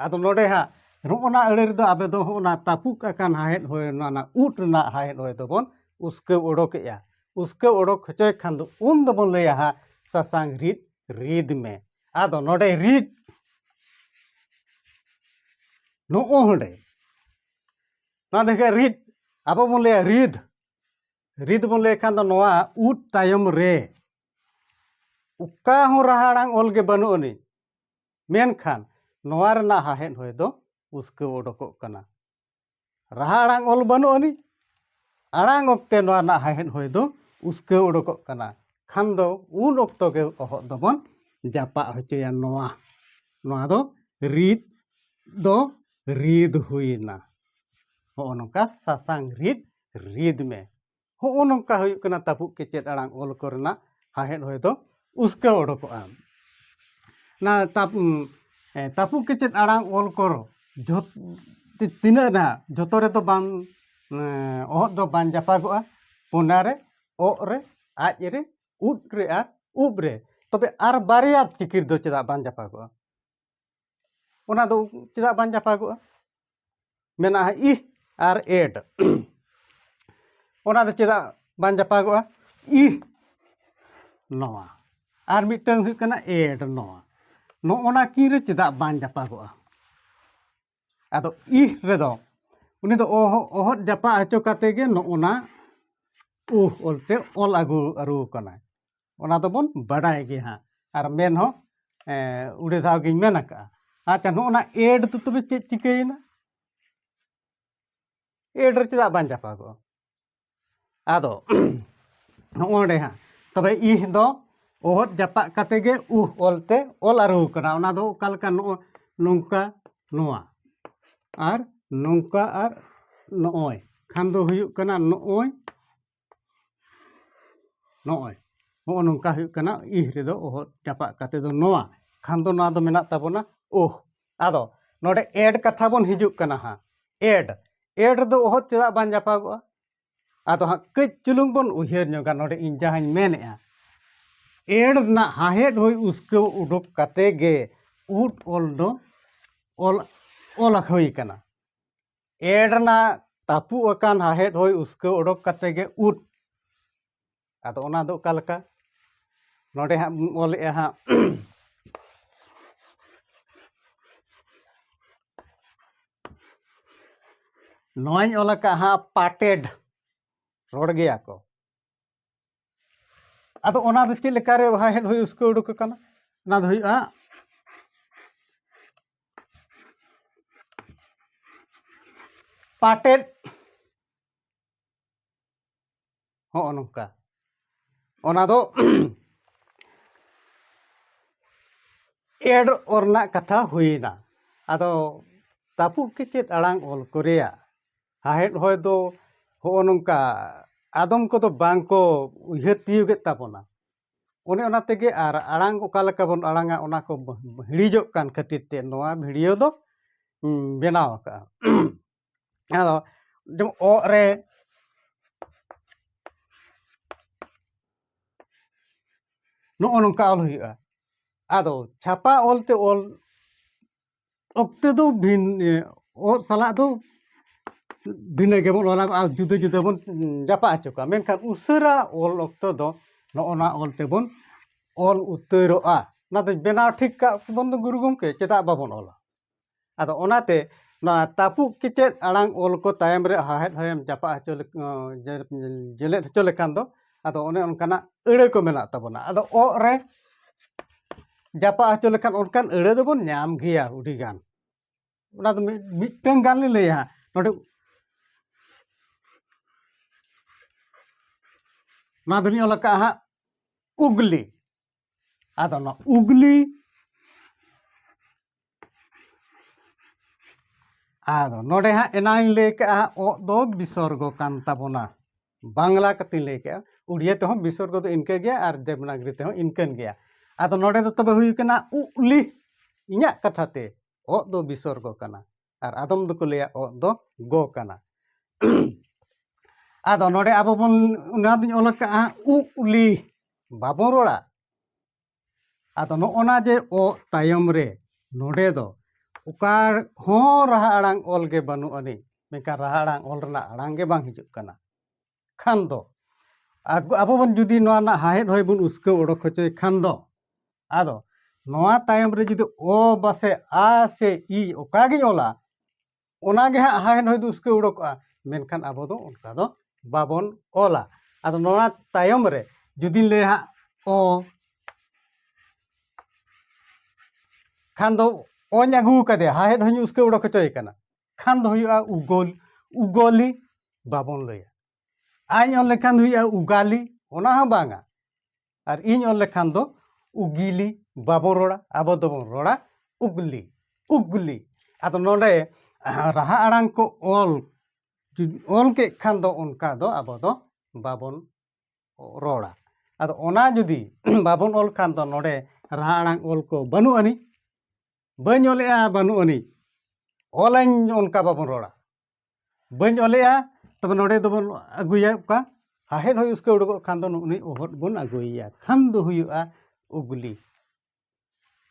ᱟᱫᱚ ᱱᱚᱰᱮ ᱦᱟᱸᱜ ᱱᱚᱜᱼᱚ ᱱᱟ ᱟᱹᱲᱟᱹ ᱨᱮᱫᱚ ᱟᱵᱚ ᱫᱚ ᱦᱚᱸᱜᱼᱚ ᱱᱟ ᱛᱟᱹᱯᱩᱜ ᱟᱠᱟᱱ ᱦᱟᱦᱮᱫ ᱦᱚᱭ ᱚᱱᱟ ᱨᱮᱱᱟᱜ ᱩᱫ ᱨᱮᱱᱟᱜ ᱦᱟᱦᱮᱫ ᱦᱚᱭ ᱫᱚᱵᱚᱱ ᱩᱥᱠᱟᱹᱣ ᱚᱰᱚᱠᱮᱜᱼᱟ ᱩᱥᱠᱟᱹᱣ ᱚᱰᱚᱠ ᱦᱚᱪᱚᱭ ᱠᱷᱟᱱ ᱫᱚ ᱩᱱ ᱫᱚᱵᱚᱱ ᱞᱟᱹᱭᱟ ᱦᱟᱸᱜ ᱥᱟᱥᱟᱝ ᱨᱤᱫ ᱨᱤᱫ ᱢᱮ ᱟᱫᱚ ᱱᱚᱰᱮ ᱨᱤᱰ ᱱᱚᱜᱼᱚ ᱦᱚᱸᱰᱮ ᱱᱚᱣᱟ ᱫᱚ ᱦᱩᱭᱩᱜ ᱨᱤᱫ ᱟᱵᱚ ᱵᱚᱱ ᱞᱟᱹᱭᱟ ᱨᱤᱫ ᱨᱤᱫ ᱵᱚᱱ ᱞᱟᱹᱭ ᱠᱷᱟᱱ ᱫᱚ ᱱᱚᱣᱟ ᱩᱫ ᱛᱟᱭᱚᱢ ᱨᱮ ᱚᱠᱟ ᱦᱚᱸ ᱨᱟᱦᱟ ᱟᱲᱟᱝ ᱚᱞ ᱜᱮ ᱵᱟᱹᱱᱩᱜ ᱟᱹᱱᱤᱡ ᱢᱮᱱᱠᱷᱟᱱ ᱱᱚᱣᱟ ᱨᱮᱱᱟᱜ ᱦᱟᱦᱮᱫ ᱦᱚᱭ ᱫᱚ ᱩᱥᱠᱟᱹᱣ ᱚᱰᱚᱠᱚᱜ ᱠᱟᱱᱟ ᱨᱟᱦᱟ ᱟᱲᱟᱝ ᱚᱞ ᱵᱟᱹᱱᱩᱜ ᱟᱹᱱᱤᱡ ᱟᱲᱟᱝ ᱚᱠᱛᱮ ᱱᱚᱣᱟ ᱨᱮᱱᱟᱜ ᱦᱟᱦᱮᱫ ᱦᱚᱭ ᱫᱚ ᱩᱥᱠᱟᱹᱣ ᱩᱰᱩᱠᱚᱜ ᱠᱟᱱᱟ ᱠᱷᱟᱱ ᱫᱚ ᱩᱱ ᱚᱠᱛᱚ ᱜᱮ ᱚᱦᱚᱫ ᱫᱚᱵᱚᱱ ᱡᱟᱯᱟᱜ ᱦᱚᱪᱚᱭᱟ ᱱᱚᱣᱟ ᱱᱚᱣᱟ ᱫᱚ ᱨᱤᱫ ᱫᱚ ᱨᱤᱫ ᱦᱩᱭᱮᱱᱟ ᱦᱚᱸᱜᱼᱚ ᱱᱚᱝᱠᱟ ᱥᱟᱥᱟᱝ ᱨᱤᱫ ᱨᱤᱫ ᱢᱮ ᱦᱚᱜᱼᱚ ᱱᱚᱝᱠᱟ ᱦᱩᱭᱩᱜ ᱠᱟᱱᱟ ᱛᱟᱹᱯᱩᱜ ᱠᱮᱪᱮᱫ ᱟᱲᱟᱝ ᱚᱞ ᱠᱚᱨᱮᱱᱟᱜ ᱦᱟᱦᱮᱫ ᱦᱚᱭ ᱫᱚ ᱩᱥᱠᱟᱹᱣ ᱚᱰᱚᱠᱚᱜᱼᱟ ᱚᱱᱟ ᱛᱟᱹᱯᱩᱜ ᱠᱮᱪᱮᱫ ᱟᱲᱟᱝ ᱚᱞ ᱠᱚᱨ ᱡᱷᱚᱛ ᱛᱤᱱᱟᱹᱜ ᱱᱟᱦᱟᱜ ᱡᱷᱚᱛᱚ ᱨᱮᱫᱚ ᱵᱟᱝ ᱚᱦᱚᱫ ᱫᱚ ᱵᱟᱝ ᱡᱟᱯᱟᱜᱚᱜᱼᱟ ᱯᱚᱱᱟ ᱨᱮ ᱚᱜ ᱨᱮ ᱟᱡ ᱨᱮ ᱩᱫ ᱨᱮ ᱟᱨ ᱩᱵ ᱨᱮ ᱛᱚᱵᱮ ᱟᱨ ᱵᱟᱨᱭᱟ ᱪᱤᱠᱤᱨ ᱫᱚ ᱪᱮᱫᱟᱜ ᱵᱟᱝ ᱡᱟᱯᱟᱜᱚᱜᱼᱟ ᱚᱱᱟ ᱫᱚ ᱪᱮᱫᱟᱜ ᱵᱟᱝ ᱪᱟᱯᱟᱜᱚᱜᱼᱟ ᱢᱮᱱᱟᱜᱼᱟ ᱤ ᱟᱨ ᱮᱰ ᱚᱱᱟ ᱫᱚ ᱪᱮᱫᱟᱜ ᱵᱟᱝ ᱪᱟᱯᱟᱜᱚᱜᱼᱟ ᱤ ᱱᱚᱣᱟ ᱟᱨ ᱢᱤᱫᱴᱟᱹᱝ ᱦᱩᱭᱩᱜ ᱠᱟᱱᱟ ᱮᱰ ᱱᱚᱣᱟ ᱱᱚᱜᱼᱚ ᱱᱟ ᱠᱤᱱ ᱨᱮ ᱪᱮᱫᱟᱜ ᱵᱟᱝ ᱪᱟᱯᱟᱜᱚᱜᱼᱟ ᱟᱫᱚ ᱤᱦ ᱨᱮᱫᱚ ᱩᱱᱤ ᱫᱚ ᱚᱦᱚᱫ ᱚᱦᱚᱫ ᱡᱟᱯᱟᱜ ᱦᱚᱪᱚ ᱠᱟᱛᱮ ᱜᱮ ᱱᱚᱜᱼᱱᱟ ᱩᱦ ᱚᱞ ᱛᱮ ᱚᱞ ᱟᱹᱜᱩ ᱟᱹᱨᱩ ᱟᱠᱟᱱᱟᱭ ᱚᱱᱟ ᱫᱚᱵᱚᱱ ᱵᱟᱰᱟᱭ ᱜᱮ ᱦᱟᱸᱜ ᱟᱨ ᱢᱮᱱ ᱦᱚᱸ ᱩᱰᱤ ᱫᱷᱟᱣ ᱜᱤᱧ ᱢᱮᱱ ᱟᱠᱟᱜᱼᱟ ᱟᱪᱪᱷᱟ ᱱᱚᱜᱼᱱᱟ ᱮᱰ ᱫᱚ ᱛᱚᱵᱮ ᱪᱮᱫ ᱪᱤᱠᱟᱹᱭᱮᱱᱟ ᱮᱰ ᱨᱮ ᱪᱮᱫᱟᱜ ᱵᱟᱝ ᱡᱟᱯᱟᱜᱚᱜᱼᱟ ᱟᱫᱚ ᱱᱚᱜᱼᱚᱸᱰᱮ ᱦᱟᱸᱜ ᱛᱚᱵᱮ ᱤᱦ ᱫᱚ ᱚᱦᱚᱫ ᱡᱟᱯᱟᱜ ᱠᱟᱛᱮ ᱜᱮ ᱩᱦ ᱚᱞᱛᱮ ᱚᱞ ᱟᱹᱨᱩ ᱠᱟᱱᱟ ᱚᱱᱟ ᱫᱚ ᱚᱠᱟ ᱞᱮᱠᱟ ᱱᱚᱜᱼᱚ ᱱᱚᱝᱠᱟ ᱱᱚᱣᱟ ᱟᱨ ᱱᱚᱝᱠᱟ ᱟᱨ ᱱᱚᱜᱼᱚᱭ ᱠᱷᱟᱱ ᱫᱚ ᱦᱩᱭᱩᱜ ᱠᱟᱱᱟ ᱱᱚᱜᱼᱚᱭ ᱱᱚᱜᱼᱚᱭ ᱱᱚᱜᱼᱚ ᱱᱚᱝᱠᱟ ᱦᱩᱭᱩᱜ ᱠᱟᱱᱟ ᱤᱦ ᱨᱮᱫᱚ ᱚᱦᱚᱫ ᱡᱟᱯᱟᱜ ᱠᱟᱛᱮ ᱫᱚ ᱱᱚᱣᱟ ᱠᱷᱟᱱ ᱫᱚ ᱱᱚᱣᱟ ᱫᱚ ᱢᱮᱱᱟᱜ ᱛᱟᱵᱚᱱᱟ ᱳᱦ ᱟᱫᱚ ᱱᱚᱰᱮ ᱮᱰ ᱠᱟᱛᱷᱟ ᱵᱚᱱ ᱦᱤᱡᱩᱜ ᱠᱟᱱᱟ ᱦᱟᱸᱜ ᱮᱰ ᱮᱰ ᱨᱮᱫᱚ ᱚᱦᱚᱫ ᱪᱮᱫᱟᱜ ᱵᱟᱝ ᱡᱟᱯᱟᱜᱚᱜᱼᱟ ᱟᱫᱚ ᱦᱟᱸᱜ ᱠᱟᱹᱡ ᱪᱩᱞᱩᱝ ᱵᱚᱱ ᱩᱭᱦᱟᱹᱨ ᱧᱚᱜᱟ ᱱᱚᱰᱮ ᱤᱧ ᱡᱟᱦᱟᱸᱧ ᱢᱮᱱᱮᱫᱼᱟ ᱮᱰ ᱨᱮᱱᱟᱜ ᱦᱟᱦᱮᱫ ᱦᱩᱭ ᱩᱥᱠᱟᱹᱣ ᱩᱰᱩᱠ ᱠᱟᱛᱮ ᱜᱮ ᱩᱫ ᱚᱞ ᱫᱚ ᱚᱞ ᱚᱞ ᱦᱩᱭ ᱠᱟᱱᱟ ᱮᱰ ᱨᱮᱱᱟᱜ ᱛᱟᱹᱯᱩᱜ ᱟᱠᱟᱱ ᱦᱟᱦᱮᱫ ᱦᱩᱭ ᱩᱥᱠᱟᱹᱣ ᱩᱰᱩᱠ ᱠᱟᱛᱮ ᱜᱮ ᱩᱫ ᱟᱫᱚ ᱚᱱᱟ ᱫᱚ ᱚᱠᱟ ᱞᱮᱠᱟ ᱱᱚᱰᱮ ᱦᱟᱸᱜ ᱵᱚᱱ ᱚᱞᱮᱜᱼᱟ ᱦᱟᱸᱜ ᱱᱚᱣᱟᱧ ᱚᱞ ᱟᱠᱟᱫ ᱦᱟᱸᱜ ᱯᱟᱴᱮᱰ ᱨᱚᱲ ᱜᱮᱭᱟ ᱠᱚ ᱟᱫᱚ ᱚᱱᱟ ᱫᱚ ᱪᱮᱫ ᱞᱮᱠᱟᱨᱮ ᱵᱟᱦᱟ ᱦᱮᱡ ᱦᱩᱭ ᱩᱥᱠᱟᱹ ᱩᱰᱩᱠ ᱟᱠᱟᱱᱟ ᱚᱱᱟ ᱫᱚ ᱦᱩᱭᱩᱜᱼᱟ ᱯᱟᱴᱮᱫ ᱦᱚᱸᱜᱼᱚ ᱱᱚᱝᱠᱟ ᱚᱱᱟ ᱫᱚ ᱮᱰ ᱚᱞ ᱨᱮᱱᱟᱜ ᱠᱟᱛᱷᱟ ᱦᱩᱭᱮᱱᱟ ᱟᱫᱚ ᱛᱟᱹᱯᱩᱜ ᱠᱮᱪᱮᱫ ᱟᱲᱟᱝ ᱚᱞ ᱠᱚ ᱨᱮᱭᱟᱜ ᱥᱟᱶᱦᱮᱫ ᱦᱚᱭ ᱫᱚ ᱦᱚᱸᱜᱼᱚ ᱱᱚᱝᱠᱟ ᱟᱫᱚᱢ ᱠᱚᱫᱚ ᱵᱟᱝ ᱠᱚ ᱩᱭᱦᱟᱹᱨ ᱛᱤᱭᱳᱜᱮᱫ ᱛᱟᱵᱚᱱᱟ ᱚᱱᱮ ᱚᱱᱟ ᱛᱮᱜᱮ ᱟᱨ ᱟᱲᱟᱝ ᱚᱠᱟ ᱞᱮᱠᱟ ᱵᱚᱱ ᱟᱲᱟᱝᱟ ᱚᱱᱟ ᱠᱚ ᱦᱤᱲᱤᱡᱚᱜ ᱠᱟᱱ ᱠᱷᱟᱹᱛᱤᱨ ᱛᱮ ᱱᱚᱣᱟ ᱵᱷᱤᱰᱤᱭᱳ ᱫᱚ ᱵᱮᱱᱟᱣ ᱟᱠᱟᱫᱼᱟ ᱟᱫᱚ ᱡᱮᱢᱚᱱ ᱚᱜ ᱨᱮ ᱱᱚᱜᱼᱚ ᱱᱚᱝᱠᱟ ᱚᱞ ᱦᱩᱭᱩᱜᱼᱟ ᱟᱫᱚ ᱪᱷᱟᱯᱟ ᱚᱞ ᱛᱮ ᱚᱞ ᱚᱠᱛᱮ ᱫᱚ ᱵᱷᱤᱱ ᱚᱜ ᱥᱟᱞᱟᱜ ᱫᱚ ᱵᱷᱤᱱᱟᱹ ᱜᱮᱵᱚᱱ ᱚᱞᱟ ᱟᱨ ᱡᱩᱫᱟᱹ ᱡᱩᱫᱟᱹ ᱵᱚᱱ ᱡᱟᱯᱟᱜ ᱦᱚᱪᱚ ᱠᱚᱣᱟ ᱢᱮᱱᱠᱷᱟᱱ ᱩᱥᱟᱹᱨᱟ ᱚᱞ ᱚᱠᱛᱚ ᱫᱚ ᱱᱚᱜᱼᱚ ᱱᱟ ᱚᱞ ᱛᱮᱵᱚᱱ ᱚᱞ ᱩᱛᱟᱹᱨᱚᱜᱼᱟ ᱚᱱᱟᱛᱮ ᱵᱮᱱᱟᱣ ᱴᱷᱤᱠ ᱠᱟᱜ ᱵᱚᱱ ᱫᱚ ᱜᱩᱨᱩ ᱜᱚᱢᱠᱮ ᱪᱮᱫᱟᱜ ᱵᱟᱵᱚᱱ ᱚᱞᱟ ᱟᱫᱚ ᱚᱱᱟᱛᱮ ᱱᱚᱣᱟ ᱛᱟᱹᱯᱩᱜ ᱠᱮᱪᱮᱫ ᱟᱲᱟᱝ ᱚᱞ ᱠᱚ ᱛᱟᱭᱚᱢ ᱨᱮ ᱦᱟᱦᱮᱫ ᱦᱚᱭᱮᱢ ᱡᱟᱯᱟᱜ ᱦᱚᱪᱚ ᱡᱮᱞᱮᱫ ᱦᱚᱪᱚ ᱞᱮᱠᱷᱟᱱ ᱫᱚ ᱟᱫᱚ ᱚᱱᱮ ᱚᱱᱠᱟᱱᱟᱜ ᱟᱹᱲᱟᱹ ᱠᱚ ᱢᱮᱱᱟᱜ ᱛᱟᱵᱚᱱᱟ ᱟᱫᱚ ᱚᱜ ᱨᱮ ᱡᱟᱯᱟᱜ ᱦᱚᱪᱚ ᱞᱮᱠᱷᱟᱱ ᱚᱱᱠᱟᱱ ᱟᱹᱲᱟᱹ ᱫᱚᱵᱚᱱ ᱧᱟᱢ ᱜᱮᱭᱟ ᱟᱹᱰᱤ ᱜᱟᱱ ᱚᱱᱟ ᱫᱚ ᱢᱤᱫᱴᱟᱝ ᱜᱟᱱ ᱞᱤᱧ ᱞᱟᱹᱭᱟ ᱱᱚᱰᱮ ᱱᱚᱣᱟ ᱫᱚᱞᱤᱧ ᱚᱞ ᱟᱠᱟᱫᱼᱟ ᱦᱟᱸᱜ ᱩᱜᱽᱞᱤ ᱟᱫᱚ ᱱᱚᱣᱟ ᱩᱜᱽᱞᱤ ᱟᱫᱚ ᱱᱚᱰᱮ ᱦᱟᱸᱜ ᱮᱱᱟᱝ ᱞᱟᱹᱭ ᱠᱟᱜᱼᱟ ᱚᱜ ᱫᱚ ᱵᱤᱥᱚᱨᱜᱚ ᱠᱟᱱ ᱛᱟᱵᱚᱱᱟ ᱵᱟᱝᱞᱟ ᱠᱟᱛᱮᱧ ᱞᱟᱹᱭ ᱠᱮᱜᱼᱟ ᱩᱲᱤᱭᱟ ᱛᱮᱦᱚᱸ ᱵᱤᱥᱚᱨᱜᱚ ᱫᱚ ᱤᱱᱠᱟᱹ ᱜᱮᱭᱟ ᱟᱨ ᱫᱮᱵᱽᱱᱟᱜᱨᱤ ᱛᱮᱦᱚᱸ ᱤᱱᱠᱟᱹᱱ ᱜᱮᱭᱟ ᱟᱫᱚ ᱱᱚᱰᱮ ᱫᱚ ᱛᱚᱵᱮ ᱦᱩᱭ ᱠᱟᱱᱟ ᱩᱜᱽᱞᱤ ᱤᱧᱟᱹᱜ ᱠᱟᱛᱷᱟ ᱛᱮ ᱚᱜ ᱫᱚ ᱵᱤᱥᱚᱨᱜᱚ ᱠᱟᱱᱟ ᱟᱨ ᱟᱫᱚᱢ ᱫᱚᱠᱚ ᱞᱟᱹᱭᱟ ᱚᱜ ᱫᱚ ᱜᱚ ᱠᱟᱱᱟ ᱟᱫᱚ ᱱᱚᱰᱮ ᱟᱵᱚ ᱵᱚᱱ ᱚᱱᱟ ᱫᱚᱧ ᱚᱞ ᱟᱠᱟᱫᱼᱟ ᱩᱜ ᱩᱞᱤ ᱵᱟᱵᱚᱱ ᱨᱚᱲᱟ ᱟᱫᱚ ᱱᱚᱜᱼᱚᱱᱟ ᱡᱮ ᱚ ᱛᱟᱭᱚᱢ ᱨᱮ ᱱᱚᱰᱮ ᱫᱚ ᱚᱠᱟ ᱦᱚᱸ ᱨᱟᱦᱟ ᱟᱲᱟᱝ ᱚᱞ ᱜᱮ ᱵᱟᱹᱱᱩᱜ ᱟᱹᱱᱤᱡ ᱢᱮᱱᱠᱷᱟᱱ ᱨᱟᱦᱟ ᱟᱲᱟᱝ ᱚᱞ ᱨᱮᱱᱟᱜ ᱟᱲᱟᱝ ᱜᱮ ᱵᱟᱝ ᱦᱤᱡᱩᱜ ᱠᱟᱱᱟ ᱠᱷᱟᱱ ᱫᱚ ᱟᱵᱚ ᱵᱚᱱ ᱡᱩᱫᱤ ᱱᱚᱣᱟ ᱨᱮᱱᱟᱜ ᱦᱟᱦᱮᱫ ᱦᱚᱭ ᱵᱚᱱ ᱩᱥᱠᱟᱹᱣ ᱚᱰᱚᱠ ᱦᱚᱪᱚᱭ ᱠᱷᱟᱱ ᱫᱚ ᱟᱫᱚ ᱱᱚᱣᱟ ᱛᱟᱭᱚᱢ ᱨᱮ ᱡᱩᱫᱤ ᱚ ᱵᱟᱥᱮ ᱟ ᱥᱮ ᱤ ᱚᱠᱟ ᱜᱤᱧ ᱚᱞᱟ ᱚᱱᱟ ᱜᱮ ᱦᱟᱸᱜ ᱦᱟᱦᱮᱫ ᱦᱚᱭ ᱫᱚ ᱩᱥᱠᱟᱹᱣ ᱚᱰᱚᱠᱚᱜᱼᱟ ᱢᱮᱱᱠᱷᱟᱱ ᱟᱵᱚ ᱫᱚ ᱚᱱᱠᱟ ᱫᱚ ᱵᱟᱵᱚᱱ ᱚᱞᱟ ᱟᱫᱚ ᱱᱚᱣᱟ ᱛᱟᱭᱚᱢ ᱨᱮ ᱡᱩᱫᱤᱧ ᱞᱟᱹᱭᱟ ᱦᱟᱸᱜ ᱚ ᱠᱷᱟᱱ ᱫᱚ ᱚᱧ ᱟᱹᱜᱩ ᱠᱟᱫᱮᱭᱟ ᱦᱟᱦᱮᱫ ᱦᱚᱧ ᱩᱥᱠᱟᱹᱣ ᱚᱰᱚᱠ ᱦᱚᱪᱚᱭᱮ ᱠᱟᱱᱟ ᱠᱷᱟᱱ ᱫᱚ ᱦᱩᱭᱩᱜᱼᱟ ᱩᱜᱚᱞ ᱩᱜᱚᱞᱤ ᱵᱟᱵᱚᱱ ᱞᱟᱹᱭᱟ ᱟᱡ ᱚᱞ ᱞᱮᱠᱷᱟᱱ ᱫᱚ ᱦᱩᱭᱩᱜᱼᱟ ᱩᱜᱟᱞᱤ ᱚᱱᱟ ᱦᱚᱸ ᱵᱟᱝᱟ ᱟᱨ ᱤᱧ ᱚᱞ ᱞᱮᱠᱷᱟᱱ ᱫᱚ ᱩᱜᱤᱞᱤ ᱵᱟᱵᱚᱱ ᱨᱚᱲᱟ ᱟᱵᱚ ᱫᱚᱵᱚᱱ ᱨᱚᱲᱟ ᱩᱜᱽᱞᱤ ᱩᱜᱽᱞᱤ ᱟᱫᱚ ᱱᱚᱰᱮ ᱨᱟᱦᱟ ᱟᱲᱟᱝ ᱠᱚ ᱚᱞ ᱚᱞ ᱠᱮᱫ ᱠᱷᱟᱱ ᱫᱚ ᱚᱱᱠᱟ ᱫᱚ ᱟᱵᱚ ᱫᱚ ᱵᱟᱵᱚᱱ ᱨᱚᱲᱟ ᱟᱫᱚ ᱚᱱᱟ ᱡᱩᱫᱤ ᱵᱟᱵᱚᱱ ᱚᱞ ᱠᱷᱟᱱ ᱫᱚ ᱱᱚᱰᱮ ᱨᱟᱦᱟ ᱟᱲᱟᱝ ᱚᱞ ᱠᱚ ᱵᱟᱹᱱᱩᱜ ᱟᱹᱱᱤᱡ ᱵᱟᱹᱧ ᱚᱞᱮᱜᱼᱟ ᱵᱟᱹᱱᱩᱜ ᱟᱹᱱᱤᱡ ᱚᱞᱟᱹᱧ ᱚᱱᱠᱟ ᱵᱟᱵᱚᱱ ᱨᱚᱲᱟ ᱵᱟᱹᱧ ᱚᱞᱮᱜᱼᱟ ᱛᱚᱵᱮ ᱱᱚᱰᱮ ᱫᱚᱵᱚᱱ ᱟᱹᱜᱩᱭᱟ ᱚᱠᱟ ᱥᱟᱦᱮᱫ ᱦᱚᱸ ᱩᱥᱠᱟᱹ ᱩᱰᱩᱠᱚᱜ ᱠᱷᱟᱱ ᱫᱚ ᱩᱱᱤ ᱚᱦᱚᱫ ᱵᱚᱱ ᱟᱹᱜᱩᱭᱮᱭᱟ ᱠᱷᱟᱱ ᱫᱚ ᱦᱩᱭᱩᱜᱼᱟ ᱩᱜᱽᱞᱤ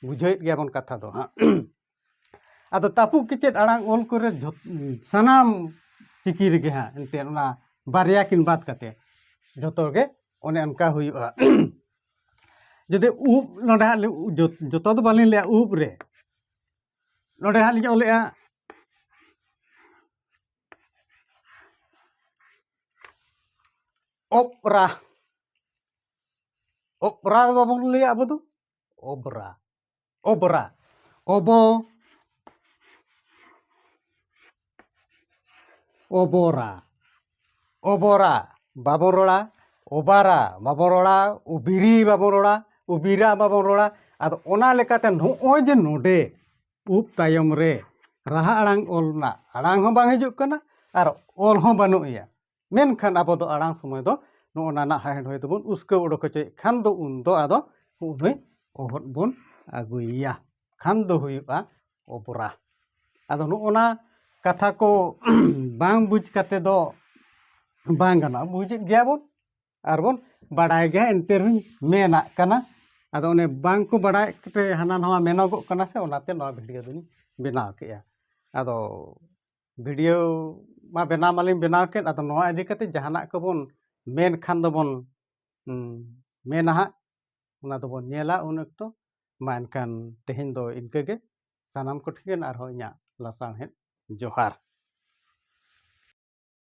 ᱵᱩᱡᱷᱟᱹᱣᱮᱫ ᱜᱮᱭᱟᱵᱚᱱ ᱠᱟᱛᱷᱟ ᱫᱚ ᱦᱟᱸᱜ ᱟᱫᱚ ᱛᱟᱹᱯᱩ ᱠᱮᱪᱮᱫ ᱟᱲᱟᱝ ᱚᱞ ᱠᱚᱨᱮ ᱥᱟᱱᱟᱢ ᱪᱤᱠᱤ ᱨᱮᱜᱮ ᱦᱟᱸᱜ ᱮᱱᱛᱮᱫ ᱚᱱᱟ ᱵᱟᱨᱭᱟ ᱠᱤᱱ ᱵᱟᱫ ᱠᱟᱛᱮᱫ ᱡᱚᱛᱚᱜᱮ ᱚᱱᱮ ᱚᱱᱠᱟ ᱦᱩᱭᱩᱜᱼᱟ ᱡᱩᱫᱤ ᱩᱵ ᱱᱚᱰᱮ ᱦᱟᱸᱜ ᱡᱚᱛᱚ ᱫᱚ ᱵᱟᱹᱞᱤᱧ ᱞᱟᱹᱭᱟ ᱩᱵ ᱨᱮ ᱱᱚᱰᱮ ᱦᱟᱸᱜ ᱞᱤᱧ ᱚᱞᱮᱜᱼᱟ ᱚᱯᱨᱟ ᱚᱯᱨᱟ ᱫᱚ ᱵᱟᱵᱚᱱ ᱞᱟᱹᱭᱟ ᱟᱵᱚ ᱫᱚ ᱚᱵᱽᱨᱟ ᱚᱵᱽᱨᱟ ᱚᱵᱚ ᱚᱵᱚᱨᱟ ᱚᱵᱚᱨᱟ ᱵᱟᱵᱚᱱ ᱨᱚᱲᱟ ᱚᱵᱟᱨᱟ ᱵᱟᱵᱚᱱ ᱨᱚᱲᱟ ᱚᱵᱤᱨᱤ ᱵᱟᱵᱚᱱ ᱨᱚᱲᱟ ᱚᱵᱤᱨᱟ ᱵᱟᱵᱚᱱ ᱨᱚᱲᱟ ᱟᱫᱚ ᱚᱱᱟ ᱞᱮᱠᱟᱛᱮ ᱱᱚᱜᱼᱚᱭ ᱡᱮ ᱱᱚᱰᱮ ᱩᱵ ᱛᱟᱭᱚᱢ ᱨᱮ ᱨᱟᱦᱟ ᱟᱲᱟᱝ ᱚᱞ ᱨᱮᱱᱟᱜ ᱟᱲᱟᱝ ᱦᱚᱸ ᱵᱟᱝ ᱦᱤᱡᱩᱜ ᱠᱟᱱᱟ ᱟᱨ ᱚᱞ ᱦᱚᱸ ᱵᱟᱹᱱᱩᱜᱼᱟ ᱢᱮᱱᱠᱷᱟᱱ ᱟᱵᱚ ᱫᱚ ᱟᱲᱟᱝ ᱥᱚᱢᱚᱭ ᱫᱚ ᱱᱚᱜᱼᱚ ᱱᱟ ᱱᱟᱦᱟᱜ ᱦᱮᱸᱰ ᱦᱚᱭ ᱫᱚᱵᱚᱱ ᱩᱥᱠᱟᱹᱣ ᱚᱰᱚᱠ ᱦᱚᱪᱚᱭᱮᱫ ᱠᱷᱟᱱ ᱫᱚ ᱩᱱ ᱫᱚ ᱟᱫᱚ ᱩᱱᱩᱭ ᱚᱦᱚᱫ ᱵᱚᱱ ᱟᱹᱜᱩᱭᱮᱭᱟ ᱠᱷᱟᱱ ᱫᱚ ᱦᱩᱭᱩᱜᱼᱟ ᱚᱵᱨᱟ ᱟᱫᱚ ᱱᱚᱜᱼᱚ ᱱᱟ ᱠᱟᱛᱷᱟ ᱠᱚ ᱵᱟᱝ ᱵᱩᱡᱽ ᱠᱟᱛᱮ ᱫᱚ ᱵᱟᱝ ᱜᱟᱱᱚᱜᱼᱟ ᱵᱩᱡᱮᱫ ᱜᱮᱭᱟ ᱵᱚᱱ ᱟᱨ ᱵᱚᱱ ᱵᱟᱲᱟᱭ ᱜᱮᱭᱟ ᱮᱱᱛᱮ ᱨᱮᱦᱚᱸ ᱢᱮᱱᱟᱜ ᱠᱟᱱᱟ ᱟᱫᱚ ᱚᱱᱮ ᱵᱟᱝ ᱠᱚ ᱵᱟᱲᱟᱭ ᱠᱟᱛᱮ ᱦᱟᱱᱟ ᱱᱟᱣᱟ ᱢᱮᱱᱚᱜᱚᱜ ᱠᱟᱱᱟ ᱥᱮ ᱚᱱᱟᱛᱮ ᱱᱚᱣᱟ ᱵᱷᱤᱰᱤᱭᱳ ᱫᱚᱧ ᱵᱮᱱᱟᱣ ᱠᱮᱜᱼᱟ ᱟᱫᱚ ᱵᱷᱤᱰᱤᱭᱳ ᱢᱟ ᱵᱮᱱᱟᱣ ᱢᱟᱞᱤᱧ ᱵᱮᱱᱟᱣ ᱠᱮᱫ ᱟᱫᱚ ᱱᱚᱣᱟ ᱤᱫᱤ ᱠᱟᱛᱮᱫ ᱡᱟᱦᱟᱱᱟᱜ ᱠᱚᱵᱚᱱ ᱢᱮᱱ ᱠᱷᱟᱱ ᱫᱚᱵᱚᱱ ᱢᱮᱱᱟ ᱦᱟᱸᱜ ᱚᱱᱟ ᱫᱚᱵᱚᱱ ᱧᱮᱞᱟ ᱩᱱ ᱚᱠᱛᱚ ᱢᱟ ᱮᱱᱠᱷᱟᱱ ᱛᱮᱦᱮᱧ ᱫᱚ ᱤᱱᱠᱟᱹ ᱜᱮ ᱥᱟᱱᱟᱢ ᱠᱚᱴᱷᱮᱱ ᱟᱨᱦᱚᱸ ᱤᱧᱟᱹᱜ ᱞᱟᱥᱟᱬᱦᱮᱫ ᱡᱚᱦᱟᱨ